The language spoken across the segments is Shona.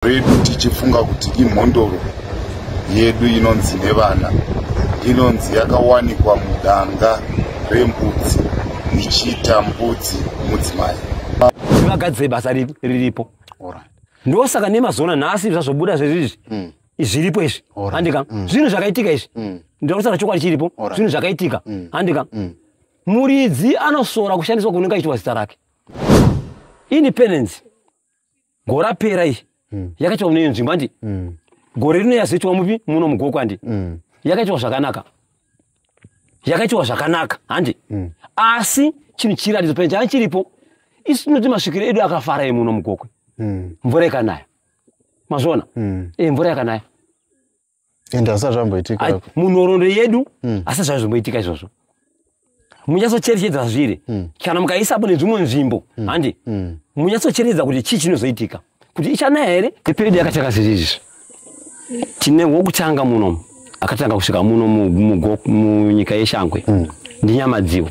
redu tichifunga kuti imhondoro yedu inonzi nevana inonzi yakawanikwa mudanga rembudzi ichiita mbudzi mudzimai vagadzire basa riripo ndosaka nemazona nhasi zvazobuda zvezvizvi hmm. zviripo izvi handika hmm. zvinhu zvakaitika izvi hmm. ndirakusara chokwadi chiripo zvinhu zvakaitika handika muridzi anosora kushandiswa kunenge achiitwa zita rake independence gore rapera iyi mm. yakaitwa mune nzvimbo handi mm. gore rino yazoitwa mupi muno mugoko handi mm. yakaitwa zvakanaka yakaitwa zvakanaka handi mm. asi chinhu chiratidzo pene changa chiripo isu tinoti masvikiro edu akafara emuno mugokwe mm. mvura ikanaya mazviona mm. e, mvura yakanaya and asati zvamboitika munhoroondo yedu hmm. asati zvave zvomboitika izvozvo munyatsocherechedza zviri hmm. kana mukaisapo nedzvimwe nzvimbo hmm. handi munyatsocherechedza kuti chii chinozoitika kuti ichanaya here eperiodi yakatanga zviri izvi tine wokutanga muno akatanga kusvika muno munyika yeshangwe ndinyamadziwo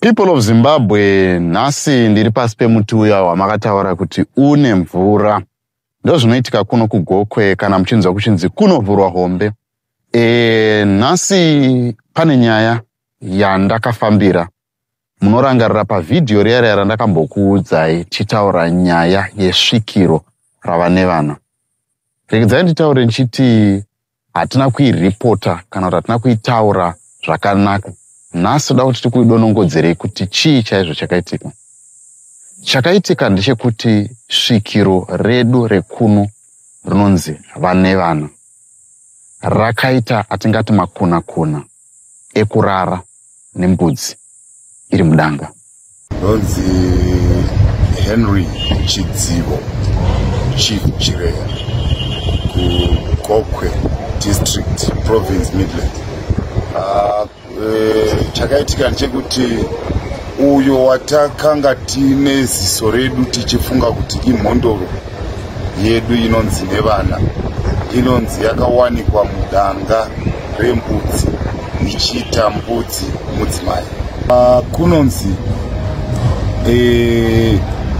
people of zimbabwe nhasi ndiri pasi pemuti uya wamakataura kuti une mvura ndozvinoitika kuno kugokwe kana muchinzwa kuchinzi kunovhurwa hombe e, nhasi pane nyaya yandakafambira Munorangarira pavhidhiyo riya riya randakambokuudzai tichitaura nyaya yesvikiro rava nevana. Regedzai nditaure ndichiti hatina kuiripota kana kuti hatina kuitaura zvakanaka. Nhasi toda kuti tikuidonongodzerei kuti chii chaizvo chakaitika. Chakaitika ndechekuti svikiro redu rekuno rinonzi vane vana. rakaita atingati makuna kuna ekurara nembudzi iri mudanga ndonzi henry chidzivo chief chireya kugokwe district province midland uh, Eh, chakaitika ndechekuti uyo watakanga tiine ziso redu tichifunga kuti imhondoro yedu inonzi nevana inonzi yakawanikwa mudanga rembudzi ichiita mbudzi mudzimai ah, kunonzi eh,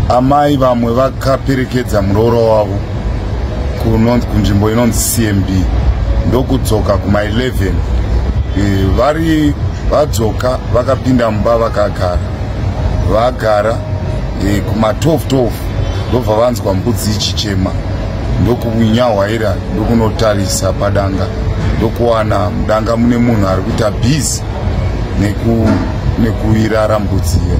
amai vamwe vakaperekedza muroora wavo kunzvimbo inonzi cmb ndokudzoka kuma 11 e, vari vadzoka vakapinda mumba vakagara vagara e, kuma 12 12 ndobva vanzwa mbudzi ichichema ndokunyahwaira ndokunotarisa padanga ndokuwana mudanga mune munhu ari kuita busy neku nekuirara mbudzi iyo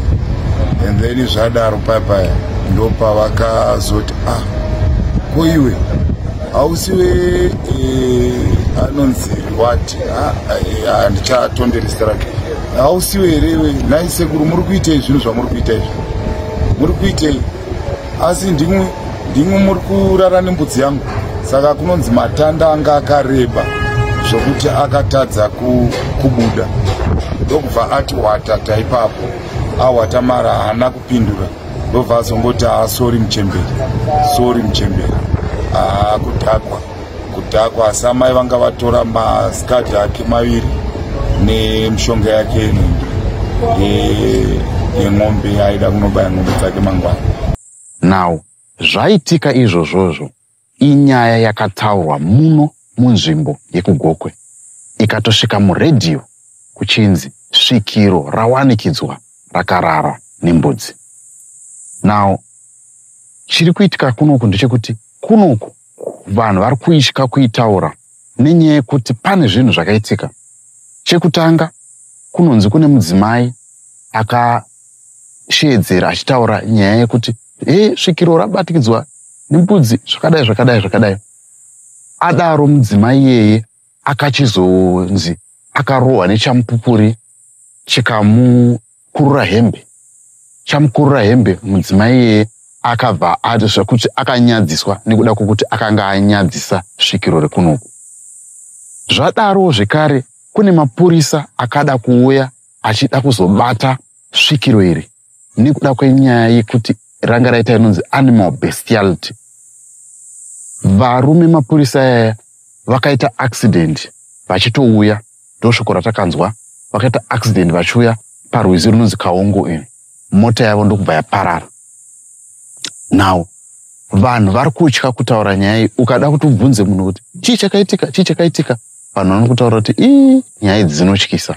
and then zvadaro paya paya ndopavakazoti ah, ko iwe hausiwe eh, anonzi wati ah, eh, handichatonderi zita rake hausiwe here iwe nai sekuru muri kuitei zvinhu zvamuri kuita izvi muri kuitei asi ndimwe ndimwe muri kurara nembudzi yangu saka kunonzi matanda anga akareba zvokuti akatadza kubuda ndokubva ati wata taipapo awata mara haana kupindura ndobva azongoti haa sori muchemberi sori muchemberi haa kudhakwa kudhakwa asi amai vanga vatora maskadhi ake maviri nemushonga yake yenenge yeng'ombe aida kunobaya ng'ombe dzake mangwana now zvaitika izvozvozvo Inyaya yakataurwa muno munzvimbo yekuGokwe ikatosvika muredhiyo kuchinzi svikiro rawanikidzwa rakarara nembudzi. Now chiri kuitika kunoku ndechekuti kunoku vanhu vari kuitya kuitaura nenyaya yekuti pane zvinhu zvakaitika. Chekutanga kunonzi kune mudzimai akasheedzera achitaura nyaya yekuti hee svikiro rabatikidzwa nembudzi zvakadai zvakadai zvakadai adaro mudzimai iyeye akachizonzi akarohwa nechamupupuri chikamukurura hembe chamukurura hembe mudzimai iyeye akabva ati zvekuti akanyadziswa nekuda kwekuti akanga anyadzisa svikiro rekunoku zvadaro zvekare kune mapurisa akada kuuya achida kuzobata svikiro iri nekuda kwenyaya yekuti ranga raita inonzi animal bestiality varume mapurisa yaya vakaita accident vachitouya ndosvoko ratakanzwa vakaita accident vachiuya parwizi runonzi kaongo ini mota yavo ndokubva yaparara now vanhu vari kutya kutaura nyaya iyi ukada kuti ubvunze munhu kuti chii chakaitika chii chakaitika vanhu vanokutaura kuti ii nyaya idzi dzinotyisa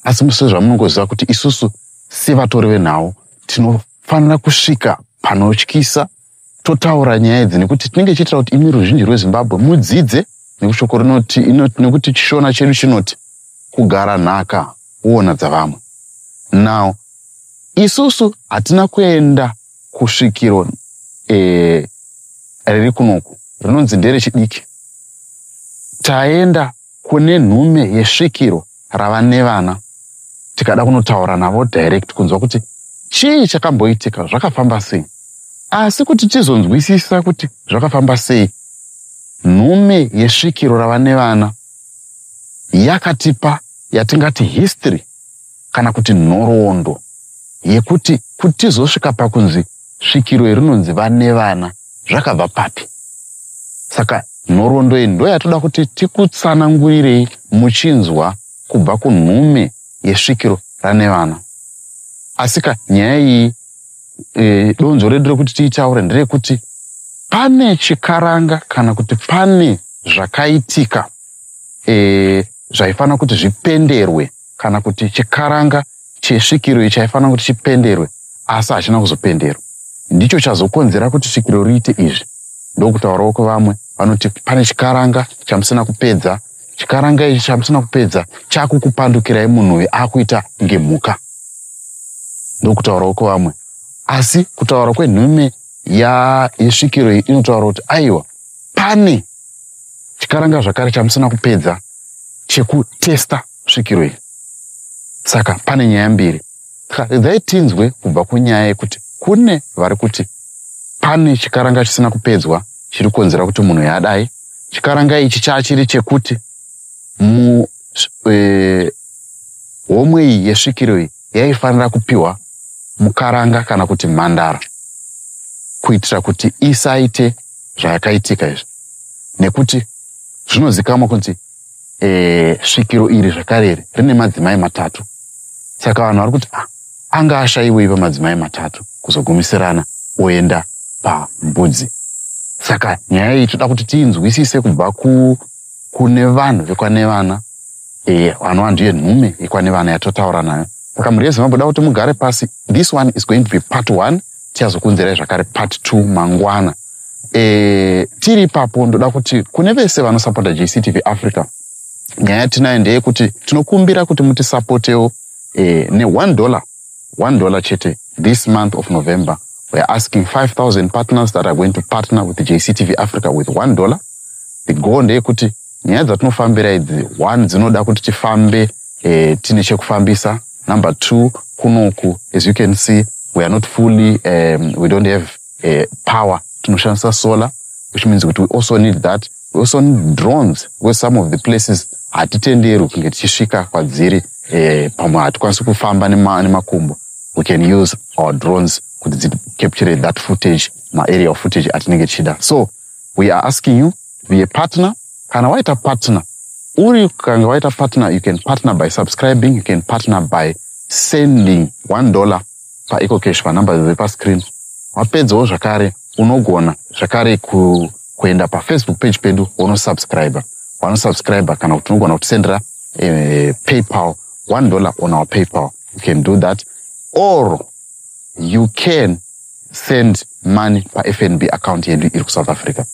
asi musezvamunongoziva kuti isusu Sevatori venhau tinofanira kusvika panotyisa totaura nyaya idzi nekuti tinenge tichiitira kuti imi ruzhinji rwezimbabwe mudzidze nekushoko rinoti nekuti chishona chedu chinoti kugara nhaka uona dzavamwe now isusu hatina kuenda kusvikiro eh, riri kunoku rinonzi nderechidiki taenda kune nhume yesvikiro rava nevana tikada kunotaura navo direct kunzwa kuti chii chakamboitika zvakafamba sei asi kuti tizonzwisisa kuti zvakafamba sei nhume yesvikiro rava nevana yakatipa yatingati history kana kuti nhoroondo yekuti kuti tizosvika pakunzi svikiro yerinonzi vane vana zvakabva papi saka nhoroondo iyi ndo yatoda kuti tikutsanangurirei muchinzwa kubva kunhume yesvikiro rane vana asika nyaya iyi e, donzvo redu rekuti tiitaure nderekuti pane chikaranga kana kuti pane zvakaitika e, zvaifanira kuti zvipenderwe kana kuti chikaranga chesvikiro iyi chaifanira kuti chipenderwe asi hachina kuzopenderwa ndicho chazokonzera kuti svikiro riite izvi ndokutaurawo kwevamwe vanoti pane chikaranga chamusina kupedza chikaranga ichi chamusina kupedza chakukupandukirai munhu uyu akuita ngemhuka ndokutaurawo kwevamwe asi kutaura kwenhume yesvikiro iyi inotaura kuti aiwa pane chikaranga zvakare chamusina kupedza chekutesta svikiro iyi saka pane nyaya mbiri saka dai tinzwe kubva kunyaya yekuti kune vari kuti pane chikaranga chisina kupedzwa chiri kukonzera kuti munhu yadai chikaranga ichi chachiri chekuti mu e, homwe iyi yesvikiro iyi yaifanira kupiwa mukaranga kana kuti mhandara kuitira kuti isaite zvayakaitika izvi nekuti zvinozikamwa kunzi e, svikiro iri zvakare iri rine madzimai matatu saka vanhu vari kuti ah, anga ashaiwei pamadzimai matatu kuzogumisirana oenda pambudzi saka nyaya iyi toda kuti tiinzwisise kubva kune vanhu vekwanevana e, vanova ndiye nhume yekwanevana yatotaura nayo saka mhuri yezimbabwe da kuti mugare pasi this one is going to be part one tichazokuunzirai zvakare part t mangwana e, tiri ipapo ndoda kuti kune vese vanosapota jctv africa nyaya yatinayo ndeyekuti tinokumbira kuti mutisapotewo e, ne1 dollar 1 dollar chete this month of november weare asking 5000 partners that are going to partner with jctv africa with 1 dollar the goal ndeyekuti nyaya dzatinofambira idzi one dzinoda kuti tifambe eh, tine chekufambisa number two kunoku as you can see we are not fully um, we don't have uh, power tinoshandisa solar which means kuti we also need that we also need drones where some of the places hatitenderwi kunge tichisvika kwadziri eh, pamwe hatikwanisi kufamba nemakumbo we can use our drones kuti dzicapture that footage maarea of footage atinenge tichida so we are asking you to be a partner kana waita partner uri kanga waita partner you can partner by subscribing you can partner by sending one dollar paecocash panumber dziri pascreen wapedzawo zvakare unogona zvakare ku, kuenda pafacebook page pedu wonosubscribe wanosubscribe kana kuti unogona kutisendera e, paypal one dollar on our paypal you can do that or you can send money pafnb account yedu iri kusouth africa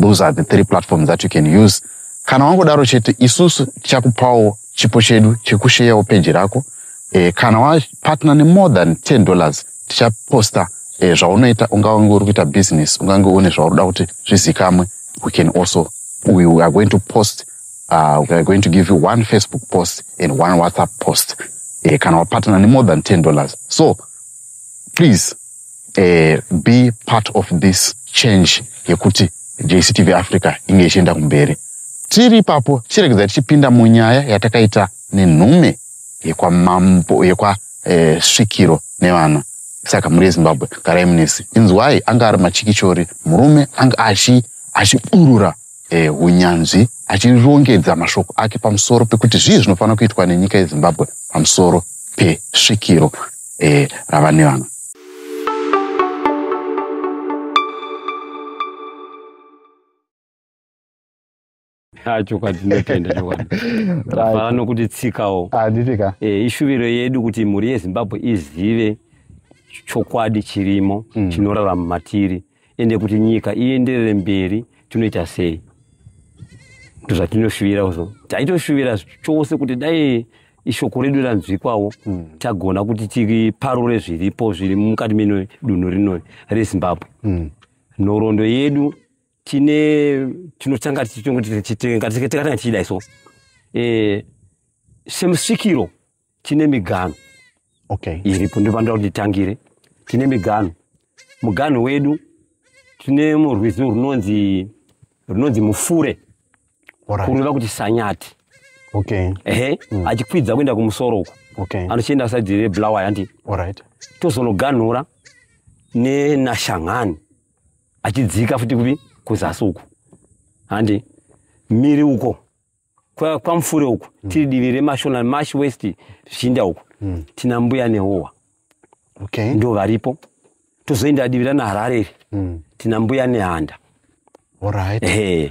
those are the three platforms that you can use kana wangodaro chete isusu tichakupawo chipo chedu chekusheyawo peji rako e, kana wapatna nemore than 10 dollars tichaposta e, zvaunoita ungange uri kuita business ungange une zvauri da kuti zvizikamwe we can also we are going to post uh, we are going to give you one facebook post and one whatsapp post uh, kana wapatana nemore than 10 dollars so please uh, be part of this change yekuti jctv africa inge ichienda kumberi tiri ipapo tichiregedza tichipinda munyaya yatakaita nenhume yekwamambo yekwasvikiro eh, nevana saka mhuri yezimbabwe garai munesi inzwai anga ari machikichori murume anga achi achiburura eh, hunyanzvi eh, achirongedza mashoko ake pamusoro pekuti zvii zvinofanira kuitwa nenyika yezimbabwe pamusoro pesvikiro eh, rava nevana ah, chokwadi ndinotenda chokwadi tafara nokuti tsikawo anditika ah, eh, ishuviro yedu kuti mhuri yezimbabwe izive chokwadi chirimo mm. chinorarama matiri ende kuti nyika ienderere mberi tinoita sei ndozvatinoshuvira zvo taitoshuvira chose kuti dai ishoko redu ranzwikwawo mm. tagona kuti tiparure zviripo zviri mukati meno dunhu rino rezimbabwe mm. nhorondo yedu tine tinotanga tichitanga tichidai so e, semusvikiro tine miganhu okay. iripo ndopanoda kuti titangire tine miganhu muganhu wedu tine murwizi runonzi runonzi mufure right. kureva kuti sanyati okay. ehe mm. achikwidza kuenda kumusoro uko okay. anochienda saidi rebulawa yandi right. tozonoganhura nenashanghani achidzika futi kupi kuzasi uko handi miri uko kwamufure uku mm. tiri divi remashona mash west zvichinda uku mm. tina mbuya nehowa okay. ndo varipo tozoenda divi rana harare iri mm. tina mbuya nehanda right. hey.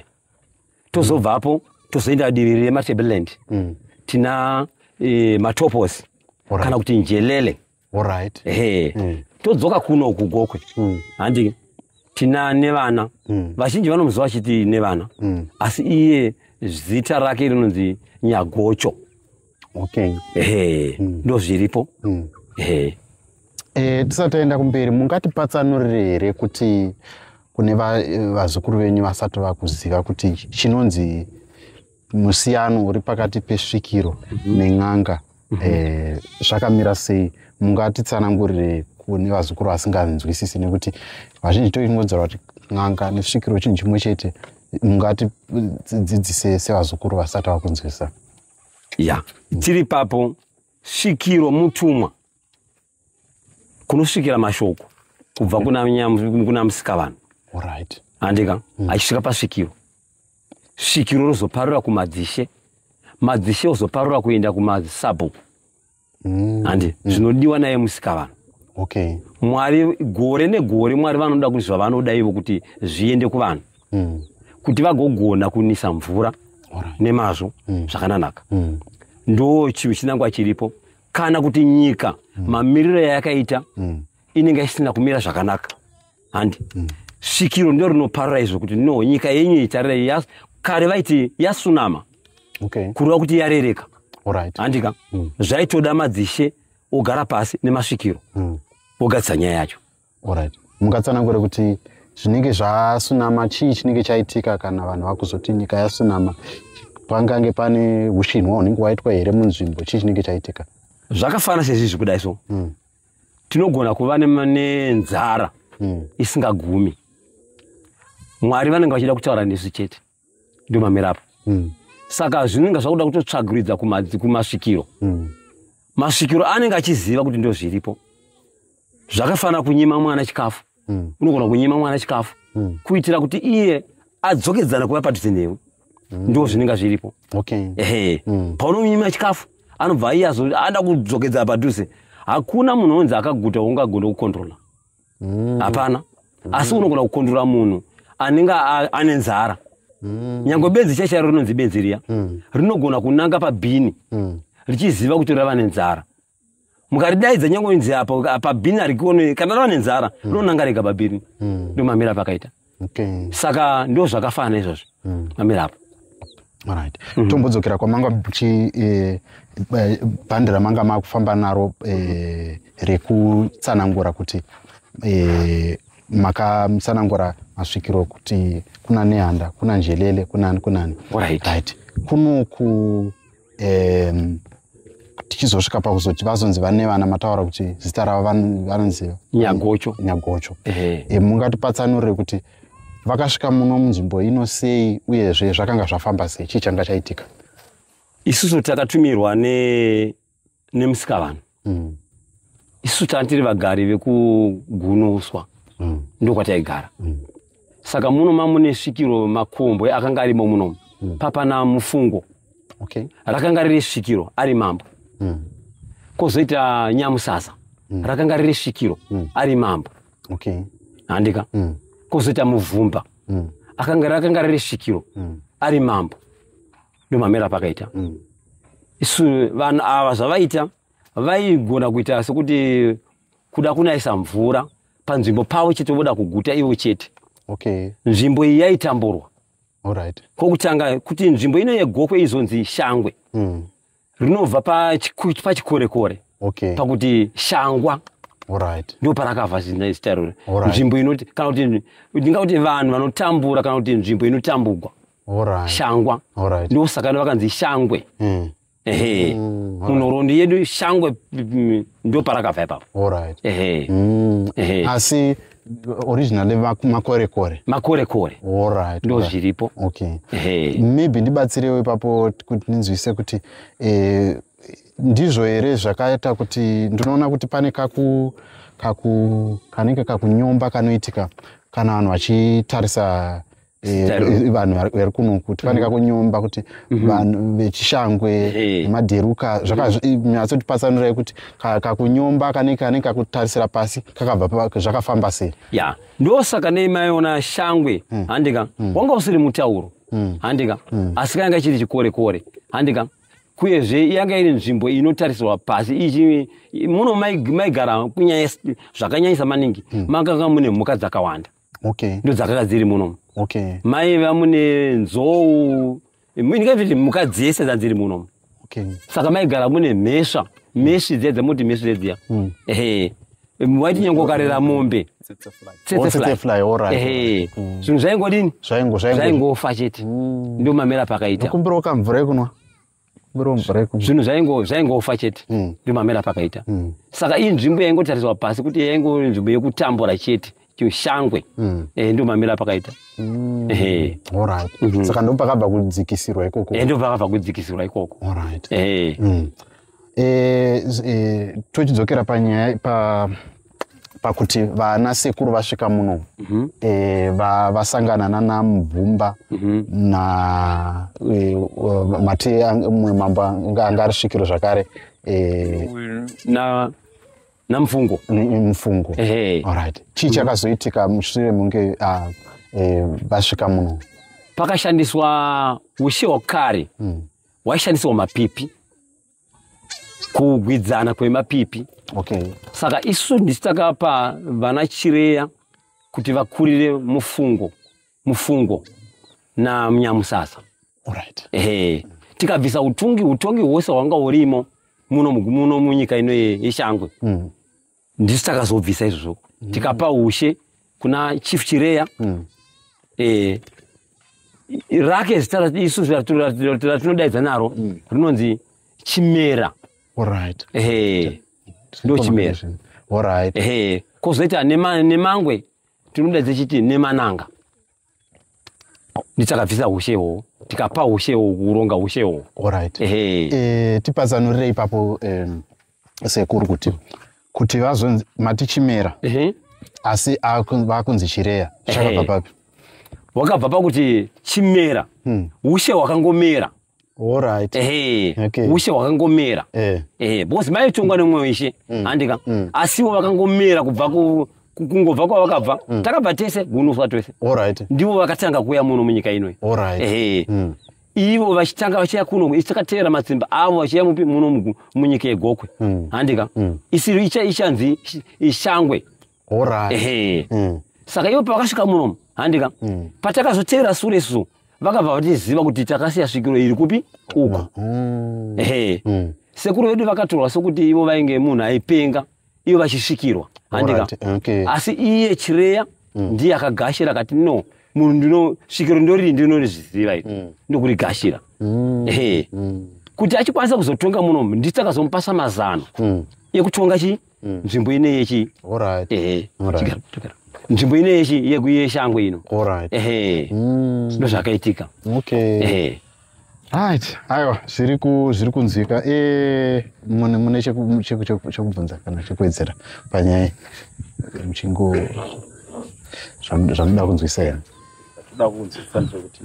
tozobvapo mm. tozoenda divi rematableland mm. tina e, matopos right. kana kuti njelele Alright. Ehe. Mm. Todzoka kuno uku gokwe. Mm. Handi tina nevana. Mm. Vazhinji vanomuziva vachiti nevana. Mm. Asi iye zita rake rinonzi Nyagocho. Okay. Ehe. Mm. Ndo zviripo. Mm. Ehe. Eh, tisati taenda kumberi mungatipatsanurire here kuti kune vazukuru venyu vasati vakuziva kuti chinonzi musiyano uri pakati pesvikiro mhm. nen'anga mhm. eh, zvakamira sei mungatitsanangurire kune vazukuru vasinganzwisisi nekuti vazhinji toingodzora kuti n'anga nesvikiro chinhu chimwe chete mungatidzidzise sevazukuru vasati vakunzwisisa ya tiri papo svikiro mutumwa kunosvikira mashoko kubva kuna musikavanhu andika mm. achisvika pasvikiro svikiro rozoparura kumadzishe madzishe ozoparura kuenda kumasabhuku mm. handi mm. zvinodiwa naye musikavanhu okay. mwari gore negore mwari vanoda kuti zvavanoda ivo kuti zviende kuvanhu mm. kuti vagogona kunisa mvura right. nemazvo mm. zvakananaka mm. ndo chinhu chinangwa chiripo kana kuti nyika mm. mamiriro yayakaita mm. inenge isina kumira zvakanaka handi mm. svikiro ndo rinoparira izvo kuti no nyika yenyu itarira kare vaiti yasunama okay. kureva kuti yarereka right. handika mm. zvaitoda madzishe ogara pasi nemasvikiro mm. ogadzisa nyaya yacho Alright. Mungatsanangure kuti zvinenge zvasunama chii chinenge chaitika kana vanhu vakuzoti nyika yasunama pangange pane ushinwa hunenge waitwa here munzvimbo chii chinenge chaitika? Zvakafana sezvizvi kudai so. Mm. Tinogona kuva nenzara mm. isingagumi. Mwari vanenge vachida kutaura nesu chete. ndio mamera apo mm. saka zvinenge zvakuda kutotsvagiridza kumasvikiro mm. masvikiro anenge achiziva kuti ndo zviripo zvakafanira kunyima mwana chikafu mm. unogona kunyima mwana chikafu mm. kuitira kuti iye adzokedzana kuva padhuze newe mm. ndo zvinenge zviripo okay. ehe mm. paunomima chikafu anobva iye azoda kudzokedzana padhuze hakuna munhu onzi akaguta ungagona kukontrola mm. hapana mm. asi unogona kukondura munhu anenge ane nzara mm. nyange benzi chai chairo rinonzi benzi riya mm. rinogona kunanga pabhini mm. richiziva kuti rava nenzara mukaridaidza nyange inzi apa pabhini harikionei kana rava nenzara mm. rinonanga rega pabhini mm. ndomamira pakaita okay. saka ndo zvakafanana izvozvo mm. mamira apo right mm -hmm. tombodzokera kwamanga muchi eh, eh, bhandi ramanga makufamba naro eh, rekutsanangura kuti eh, makamutsanangura masvikiro kuti kuna nehanda kuna njelele kunani kunani right, right. kunoku um, tichizosvika pakuzoti vazonzi vane vana mataura kuti zita ravo vanonzi nyagocho nyagocho e, mungatipatsanure kuti vakasvika muno munzvimbo ino sei uyezve zvakanga zvafamba sei chii changa chaitika isusu takatumirwa ne nemusikavanhu mm. isu tanga tiri vagari vekugunoswa mm. ndokwataigara mm. saka muno mamune svikiro makombwe akanga arimo munomu mm. papana mufungo okay. rakanga riri svikiro ari mambo mm. kozoita nyamusasa mm. rakanga riri svikiro mm. ari mambo okay. handika mm. kozoita muvumba mm. akanga rakanga riri svikiro mm. ari mambo ndomamera pakaita mm. isu vanhu ava zvavaita vaigona kuita sekuti kuda kunaisa mvura panzvimbo pavo chete voda kuguta ivo chete okay. nzvimbo iyi yaitamburwa right. kokutanga kuti nzvimbo ino yegokwe izonzi shangwe mm. rinobva pachikorekore okay. pakuti shangwa right. ndo parakabva zina izita irori right. nzvimbo inoti kana kuti ndinga kuti vanhu vanotambura kana kuti nzvimbo inotambugwa right. shangwa right. ndo saka no vakanzi shangwe mm. ehe mm, right. munhoroondo yedu shangwe mm, ndo parakabva ipapo right. ehe mm. ehe asi originally makorekore makorekore allright ndo zviripo okay hey. maybe ndibatsirewo ipapo kuti ndinzwise kuti eh, ndizvo here zvakaita kuti ndinoona kuti pane kaku kaku kanenge kakunyomba kanoitika kana vanhu vachitarisa Eh, vanhu vari kuno kuti vane mhm. kakunyomba kuti mhm. vanhu vechishangwe nemaderuka zvakanyatso tipatsanurai kuti kakunyomba kanenge kanenge kakutarisira pasi kakabva zvakafamba sei ya ndosaka nei maiona shangwe hmm. handika hmm. wanga usiri mutauro hmm. handika asi kanga chiri chikore kore handika kuyezve yanga iri nzvimbo inotarisirwa pasi ichi muno maigara kunyaya zvakanyanyisa maningi makanga mune mhuka dzakawanda okay ndo dzakanga dziri muno okay mai vamune nzou ndingaviti mhuka dzese dzadziri muno okay saka maigara mune mhesva mheshi dziya dzamuti mheshi dzedziya mm. ehe waiti nyangokarera mombe zvinhu zvaingodini zvaingofa chete mm. ndomamera pakaita kumbirawo kamvura ekunwa zvinhu zvaingofa chete mm. ndimamera pakaita mm. saka iyi nzvimbo yaingotariswa pasi kuti yaingo nzvimbo yekutambura chete chishangwe mm. eh, ndo mamira pakaita mm. eh. mhm. saka ndo pakabva kudzikisirwa ikoko eh, ndo pakabva kudzikisirwa ikoko mm. tochidzokera panyaya pa pakuti vana sekuru vasvika muno mm -hmm. e, va, vasangana nana mubvumba mm -hmm. na e, mati mumwe mambo anga ari svikiro zvakare e, na namfungo mfungo hey. alright chii mhm. chakazoitika mushure munge ah, e, vasvika uh, e, muno pakashandiswa ushe hwakare mm. waishandisirwa mapipi kugwidzana kwemapipi okay. saka isu ndisu takapa vana chireya kuti vakurire mufungo mufungo namunyamusasa right. hey. tikabvisa utungi utongi hwose hwanga urimo muno muno munyika ino yeshangwe mm. ndisu takazobvisa izvozvo mm. tikapa ushe kuna chief chireya mm. e, rake zita isu ratinodaidza naro mm. rinonzi chimera right. e, ndo chimera right. e, kozoita nema, nemangwe tinodaidza chiti nemananga nditakabvisa hushe ihwohwo tikapa hushe ihwohwo kuronga hushe ihwohwo orit eh, tipatsanurire ipapo sekuru kuti kuti vazonzi mati chimera asi vakunzi chireya chakabva papi wakabva pakuti chimera hmm. ushe hwakangomera Alright. Ehe. Okay. Ushe hwakangomera. Eh. Ehe. Because mai tongwa nemwe weshe. Mm. Andika. Mm. Asi wo vakangomera kubva ku kungobva kwa vakabva. Mm. Takabva tese gunuswa twese. Alright. Ndivo vakatanga kuya muno munyika ino. Alright. Ehe. Mm. Ivo vachitanga vachiya kuno ichakatera matsimba avo vachiya mupi muno munyika yegokwe. Mm. Andika. Mm. Isiri icha ichanzi ishangwe. horai ehe Mm. saka ivo pavakasvika muno handika Mm. patakazoteera sure su vakabva vatiziva kuti takasiya svikiro iri kupi uku Mm. ehe Mm. sekuru vedu vakatorwa sokuti ivo vainge munhu aipenga ivo vachisvikirwa handika Alright, okay. asi iye chireya ndiye akagashira akati no munhu ndino svikiro ndoriri ndinorizviziva iri ndokurigashira Mm. ehe Mm. kuti achikwanisa kuzotonga muno nditakazomupasa mazano Mm. ekutonga chi Mm. nzvimbo ine yechi All right. ehe All right. chigaro chigaro nzvimbo ine yechi yeku- yeshango ino All right. ehe Mm. ndozvakaitika Okay. ehe Right. Aiwa, zviri ku zviri kunzwika. Eh, mune mune cheku cheku cheku- chekubvunza kana chekuwedzera panyaya. Muchingo zvamu- zvamuda kunzwisa here? toda kunzwisa ndezvekuti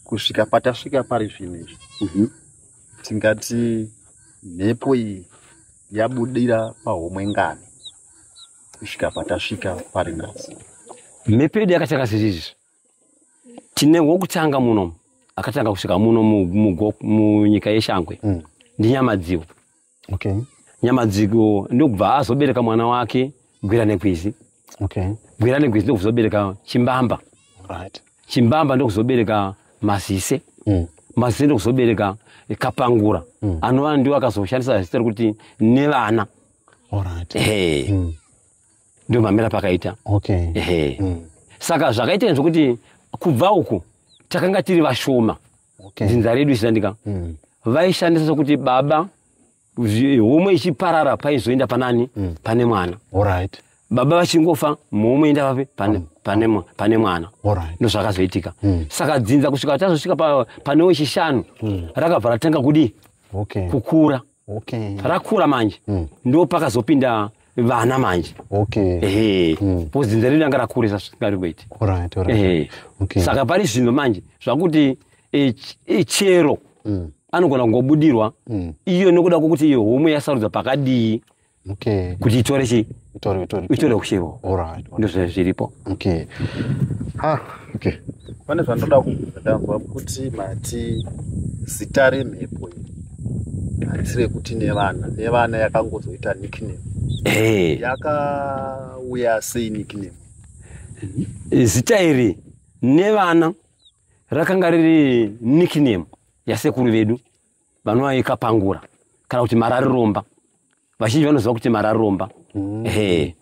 kusvika patasvika pari zvino izvi tingati mhepo iyi yabudira pahomwe ngani kusvika patasvika pari nhasi mhepo yedu yakatanga sezvizvi tine wokutanga muno akatanga kusvika muno munyika yeshangwe mm. ndinyamadziwo okay. nyamadziwo ndokubva azobereka mwana wake gwira nekwizi okay. gwira negwezi ndokuzobereka chimbamba right. chimbamba ndokuzobereka mazise mm. mazise ndokuzobereka kapangura mm. anova ndiwo akazoshandisa zita rekuti nevana right. hey. mm. ndio mamira pakaita okay. hey. mm. saka zvakaita zvokuti kubva uku takanga tiri vashoma okay. dzinza redu ishandika mm. vaishandisa sokuti baba homwe ichiparara paizoenda panani mm. pane mwana right. baba vachingofa mhomwe enda vapi pane, mm. pane, pane mwana right. ndozvakazoitika mm. saka dzinza kusvika tazosvika pa, pane wechishanu mm. rakabva ratanga kudii okay. kukura okay. rakura manje mm. ndo pakazopinda vana manje okay. ehe mm. po dzinza redu ranga rakurisa saka pari zvino manje zvakuti e, e, chero mm. anogona kungobudirwa mm. iyo nokuda kwokuti iyo homwe yasarudzwa pakadii okay. kuti itore chi itore kuchivo ndozvai zviripo okay. ah, okay. pane zvandoda kubvunza ndanzwa kuti mati zita remhepo hatisi rekuti nevana nevana yakangozoita nickname hey. Eh. yakauya sei nickname zita iri nevana rakanga riri nickname yasekuru vedu vanovaika pangura kana kuti marariromba vazhinji vanoziva kuti marariromba mm. ehe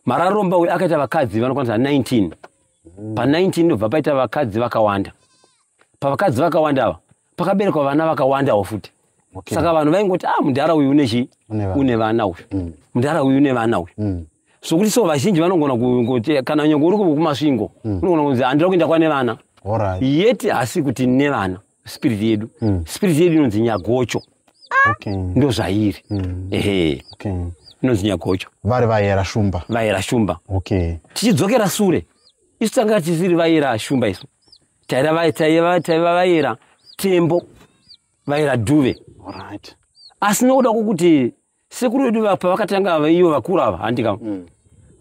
marariromba uyu akaita vakadzi vanokwanisa 19 mm. pa 19 ndobva paita vakadzi vakawanda pavakadzi vakawanda ava pakaberekwa vana vakawandawo futi okay. saka vanhu vaingoti ah mudhara uyu une chii une vana uyu mm. mudhara uyu une vana uyu mm. sokuti so vazhinji vanogona kuti kana nyongo uri kumasvingo mm. unogona kunzi handira kuenda kwane vana right. yet hasi kuti ne vana spirit yedu mm. spirit yedu inonzi nyagocho okay. ndo zvairi mm. ehe okay. inonzi nyagocho vari vayera shumba vayera shumba okay. tichidzokera sure isu tanga tisiri vayera shumba isu taiva vaera tembo vaera duve asi nokuda kwokuti sekuru vedu pavakatanga vaiyo vakuru ava handika mm.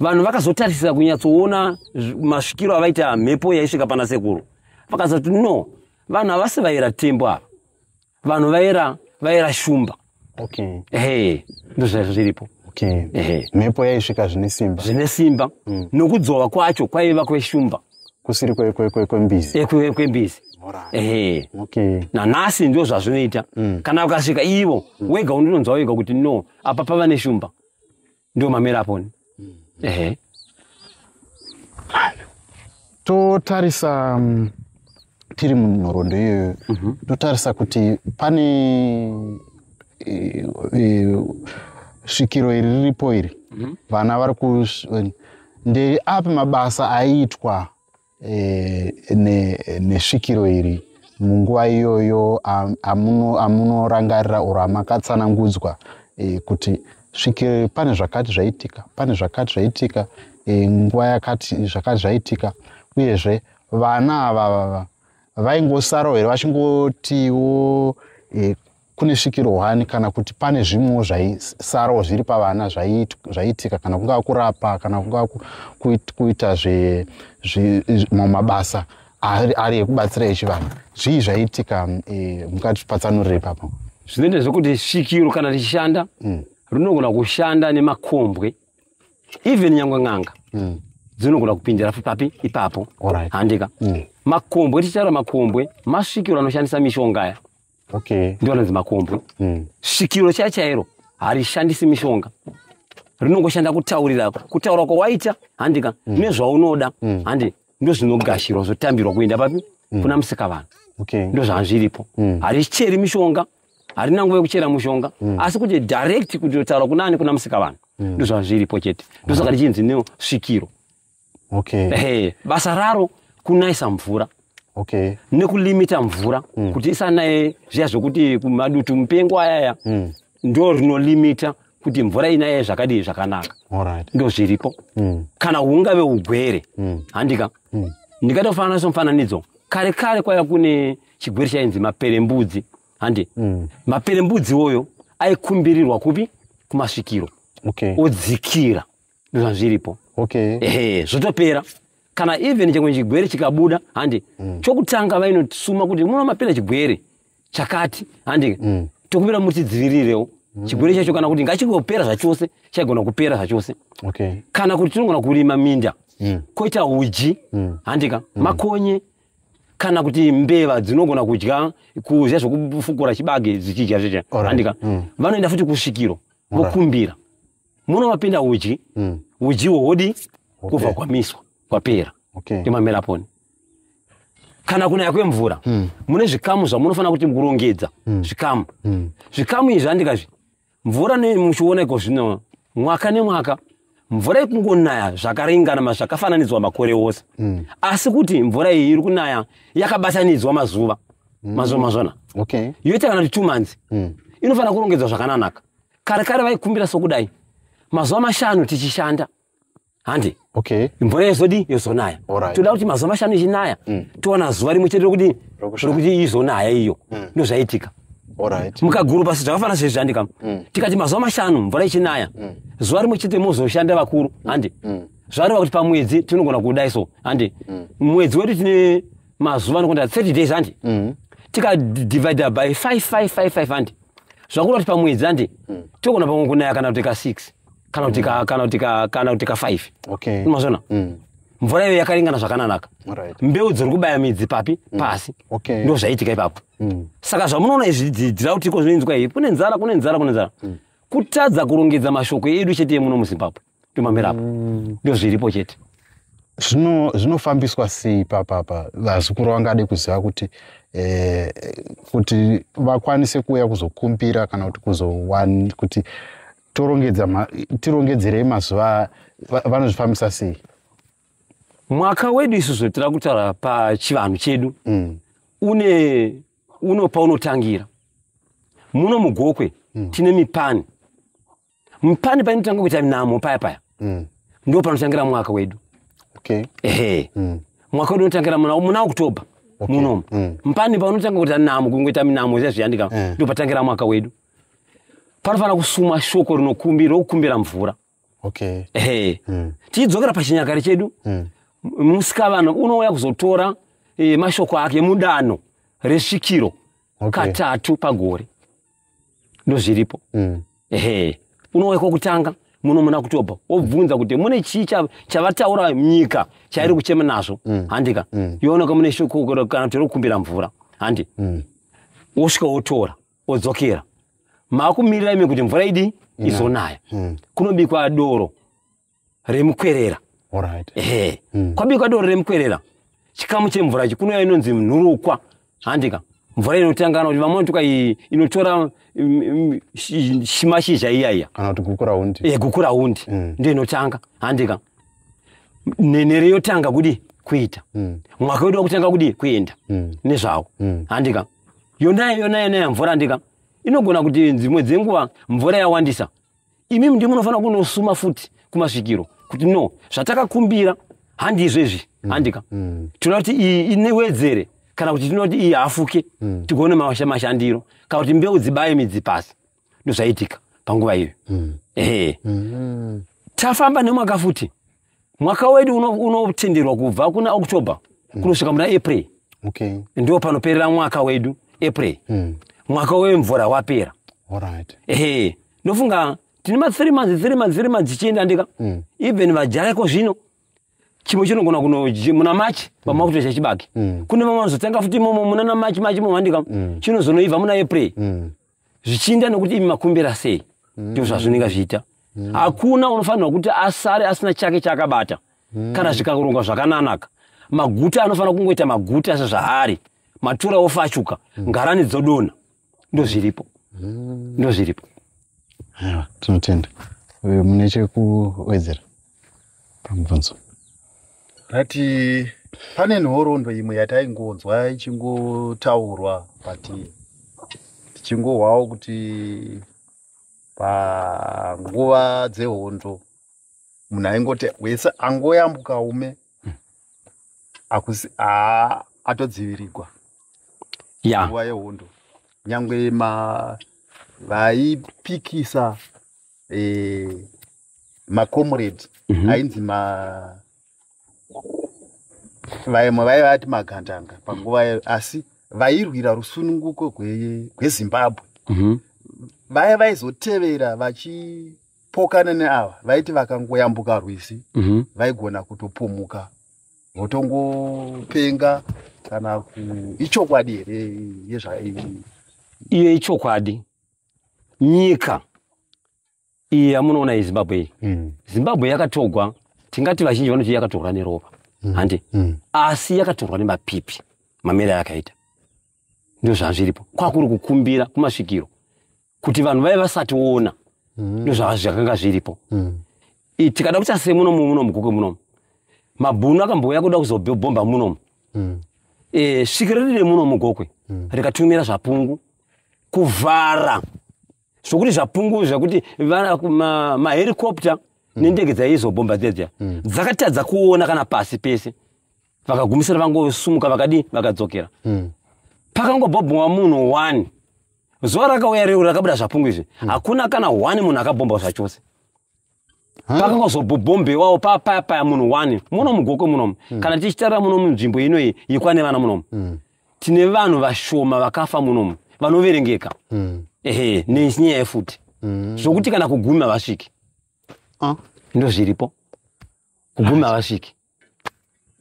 vanhu vakazotarisira kunyatsoona masvikiro avaita mhepo yaisvika pana sekuru vakazoti no vanhu havasi vaera tembo ava vanhu vaera vaera shumba okay hey ndozvazvo zviripo okay hey mhepo yaisvika zvine simba zvine simba mm. nokudzova kwacho kwaiva kweshumba kusiri kwembizi eh, kwe, kwembizi ehe okay nanhasi ndo zvazvinoita mm. kana ukasvika ivo mm. wega unonzwa wega kuti no apa pava neshumba ndiwo mamera aponi mm. ehe totarisa um, tiri munhorondo iyoyo mm -hmm. totarisa kuti pane e, e, svikiro iri riripo iri mm -hmm. vana vari ku ndeapi mabasa aiitwa e, ne, nesvikiro iri munguva iyoyo amunorangarira or amakatsanangudzwa e, kuti svikiro pane zvakati zvaitika pane zvakati zvaitika e, nguva yakati zvakati zvaitika uyezve vana ava vava vaingosarawo here vachingotiwo e, kune svikiro hwani kana kuti pane zvimwewo zvaisarawo zviri pavana zvaiitika kana kungava kurapa kana kungava kuita zvemabasa ari ekubatsira echivanhu zvii zvaiitika mm, e, mukati patsanurire papo zvinoita zvekuti svikiro kana richishanda mm. rinogona kushanda nemakombwe even nyangwe n'anga mm. dzinogona kupindira papi ipapo handika makombwe tichitaura makombwe masvikiro anoshandisa mishonga aya okay. ndiwo anonzi makombo mm. svikiro chaya chairo harishandisi mishonga rinongoshanda kutaurira kutaura kwawaita handika mm. nezvaunoda mm. handi ndozvinogashirwa zvotambirwa kuenda papi mm. kuna musika vanhu okay. ndozvazviripo mm. haricheri mishonga harina nguva yekuchera mushonga mm. asi kuti direct kuti otaura kunani kuna musika vanhu mm. ndozvazviripo chete ndosaka richinzi nesvikiro okay. hey, basa raro kunaisa mvura okay. nekulimita mvura mm. kuti isanaye zviya zvekuti madutu mupengo ayaya mm. ndo rinolimita kuti mvura inaye zvakadii zvakanaka right. ndo zviripo mm. kana hungave ugwere mm. handika mm. ndikatofanana somufananidzo kare kare kwaya kune chigwere chainzi maperembudzi handi mm. maperembudzi oyo aikumbirirwa kupi kumasvikiro okay. odzikira ndozvazviripo okay ehe zvotopera kana even chimwe chigwere chikabuda handi mm. chokutanga vainosuma kuti muno mapera chigwere chakati handi mm. tokumbira mutidzivirirewo mm. chigwere chacho kana kuti ngachingopera zvachose chaigona kupera zvachose okay. kana kuti tinogona kurima minda mm. koita uji mm. handika mm. makonye kana kuti mbeva dzinogona kudya kuzya zvokufukura chibage dzichidya zvezve handika mm. vanoenda futi kusvikiro vokumbira right. muno mapinda uji mm. uji wohodi okay. kubva kwamiswa kwapera okay. imamera poni kana kunaya kwemvura mm. mune zvikamu zvamunofanira kuti kurongedza mm. zvikamu mm. zvikamu izvi andikazvi mvura nemuchiona iko zvino mwaka nemwaka mvura ikungonaya zvakaringana mazvakafananidzwa makore ose mm. asi kuti mvura iyi iri kunaya yakabatanidzwa mazuva mm. mazuva mazvona okay. yoita kana kuti two months mm. inofanira kurongedzwa zvakananaka kare kare vaikumbira sokudai mazuva mashanu tichishanda handi okay. mvura yezodi yozonaya right. toda kuti mazuva mashanu ichinaya mm. towana zuva rimwe chete rokuti rokuti izonaya iyo mm. ndozvaitika right. mukaguru pasi zvakafanira zvezviandika mm. tikati mazuva mashanu mvura ichinaya mm. zuva rimwe chete mozoshanda vakuru mm. handi mm. zvareva kuti pamwedzi tinogona kudai so handi mm. mwedzi wedu tine mazuva anokonda 30 days handi mm. tikadivida by 5555 handi zvakura kuti pamwedzi andi mm. togona pamwe kunaya kana kuti ka six kana kuti ka kana kuti ka kana kuti ka five okay unozviona mm. mvura iyo yakaringana zvakananaka right. mbeu dziri kubaya midzi papi mm. pasi okay. ndo zvaitika ipapo mm. saka zvamunoona izvi dzidzira kuti iko zvinoinzwa iyi kune nzara kune nzara kune nzara mm. kutadza kurongedza mashoko edu chete yemuno muzimbabwe tomamira apa mm. ndo zviripo chete zvinofambiswa sei papapa vazukuru vangade kuziva kuti eh, kuti vakwanise kuuya kuzokumbira kana kuti kuzowani kuti tirongedzerei mazuva vanozvifambisa sei mwaka wedu isu zvotira kutaura pachivanhu chedu mm. une unopa unotangira muno mugokwe mm. tine mipani pane painotanga kuita nhamo paya paya mm. ndo panotangira mwaka wedu okay. ehe mm. mwaka wedu unotangira muna, muna oktober okay. munomu mm. mpani paunotanga kuita nhamo kungoita minamo zvezviyandika mm. Eh. ndo patangira mwaka wedu panofanira kusuma shoko rinokumbira rokukumbira mvura okay. ehe mm. tichidzokera pachinyakare chedu mm. musikavana unouya kuzotora e, mashoko ake mudano resvikiro okay. katatu pagore ndozviripo mm. ehe unouya kwokutanga muno muna kutoba wobvunza kuti mune chii chavataura nyika chairi mm. kuchema nazvo mm. handika mm. yooneka mune shoko kana tiri kukumbira mvura handi mm. wosvika wotora wodzokera maakumirira imi kuti mvura idi mm. izonaya mm. kunobikwa doro remukwerera right. ehe mm. kwabikwa doro remukwerera chikamu chemvura ichi kunouya inonzi nhurukwa handika mvura inotangana kuti vamwe vanotuka inotora mm, mm, shimashizha iya iya kana kuti gukuraundi e, eh, gukuraundi mm. ndiyo inotanga handika nenhere yotanga kudi kuita mm. mwaka wedu wakutanga kudi kuenda mm. nezvawo mm. handika yona yona yona yamvura handika inogona kuti dzimwe dzenguva mvura yawandisa imimi ndimi munofanira kunosuma futi kumasvikiro kuti no zvatakakumbira handizvezvi mm. handika mm. tinoda kuti iyi inewedzere kana kuti tinoda kuti iyi hafuke mm. tigone mashandiro kana kuti mbeu dzibaye midzi pasi ndozvaitika panguva iyoyo mm. ehe mm. tafamba nemwaka futi mwaka wedu unotenderwa uno kubva kuna october mm. kunosvika muna april okay. ndiwo panoperera mwaka wedu april mm. mwaka wemvura wapera right. ehe ndofunga tine mathree months three months three months tichienda ndika mm. even vajareko zvino chimwe chinogona kuno muna machi vamakutoita mm. chibage mm. kune vamwe vanozotanga futi imomo muna na machi machi momandika mm. chinozonoibva muna april mm. zvichiinda nekuti imi makumbira sei mm. ndizvo zvazvinenge zviita mm. hakuna unofanirwa kuti asare asina chake chaakabata mm. kana zvikarongwa zvakananaka maguta anofanira kungoita maguta sezvaari matura ofachuka mm. ngarani dzodona ndozviripo mm. ndozviripo tinotenda mune chekuwedzera pamubvunzo ndati pane nhorondo imwe yataingonzwa ichingotaurwa but tichingohwawo kuti panguva dzehondo munhu aingoti wese angoyambuka ume akusi atodzivirigwa nguva yehondo nyange ma vaipikisa eh, macomrade mm -hmm. ainzi ma vaimwe vaive vati magandanga panguva yayo asi vairwira rusununguko gwezimbabwe gwe mm -hmm. vaya vaizotevera vachipokana neava vaiti vakangoyambuka rwizi mm -hmm. vaigona kutopumuka votongopenga kana ichokwadi here yezvai iye ichokwadi nyika iyi yamunoona iyi zimbabwe iyi mm. zimbabwe yakatorwa tingati vazhinji vanoti yakatorwa neropa mm. handi mm. asi yakatorwa nemapipi mamere ayakaita ndo zvazviripo kwakuri kukumbira kumasvikiro kuti vanhu vave vasationa mm. ndo zvazvakanga zviripo mm. tikada kuita se munomu munomu gokwe munomu mabhunu akambouya kuda kuzobhomba munomu mm. e, svikiro riri remunomu gokwe mm. rikatumira zvapungu kuvhara zvokuti zvapungu zvakuti mahericopter nendege dzaizobhomba dzedza mm. dzakatadza kuona kana pasi pese vakagumisira vangosumuka vakadii vakadzokera mm. pakangobhobhomwa munhu one zuva rakauya reu rakabuda zvapungu izvi mm. hakuna kana one munhu akabhomba zvachose pakangozobhobhombewawo papayapaya munhu one muno mugokwe munomu hmm. kana tichitarira muno munzvimbo inoyi yekwane vana munomu hmm. tine vanhu vashoma vakafa munomu vanoverengeka hmm. ehe nenyaya yefuti zvokuti kana kugumi havasviki ah. ndozviripo kugumi havasviki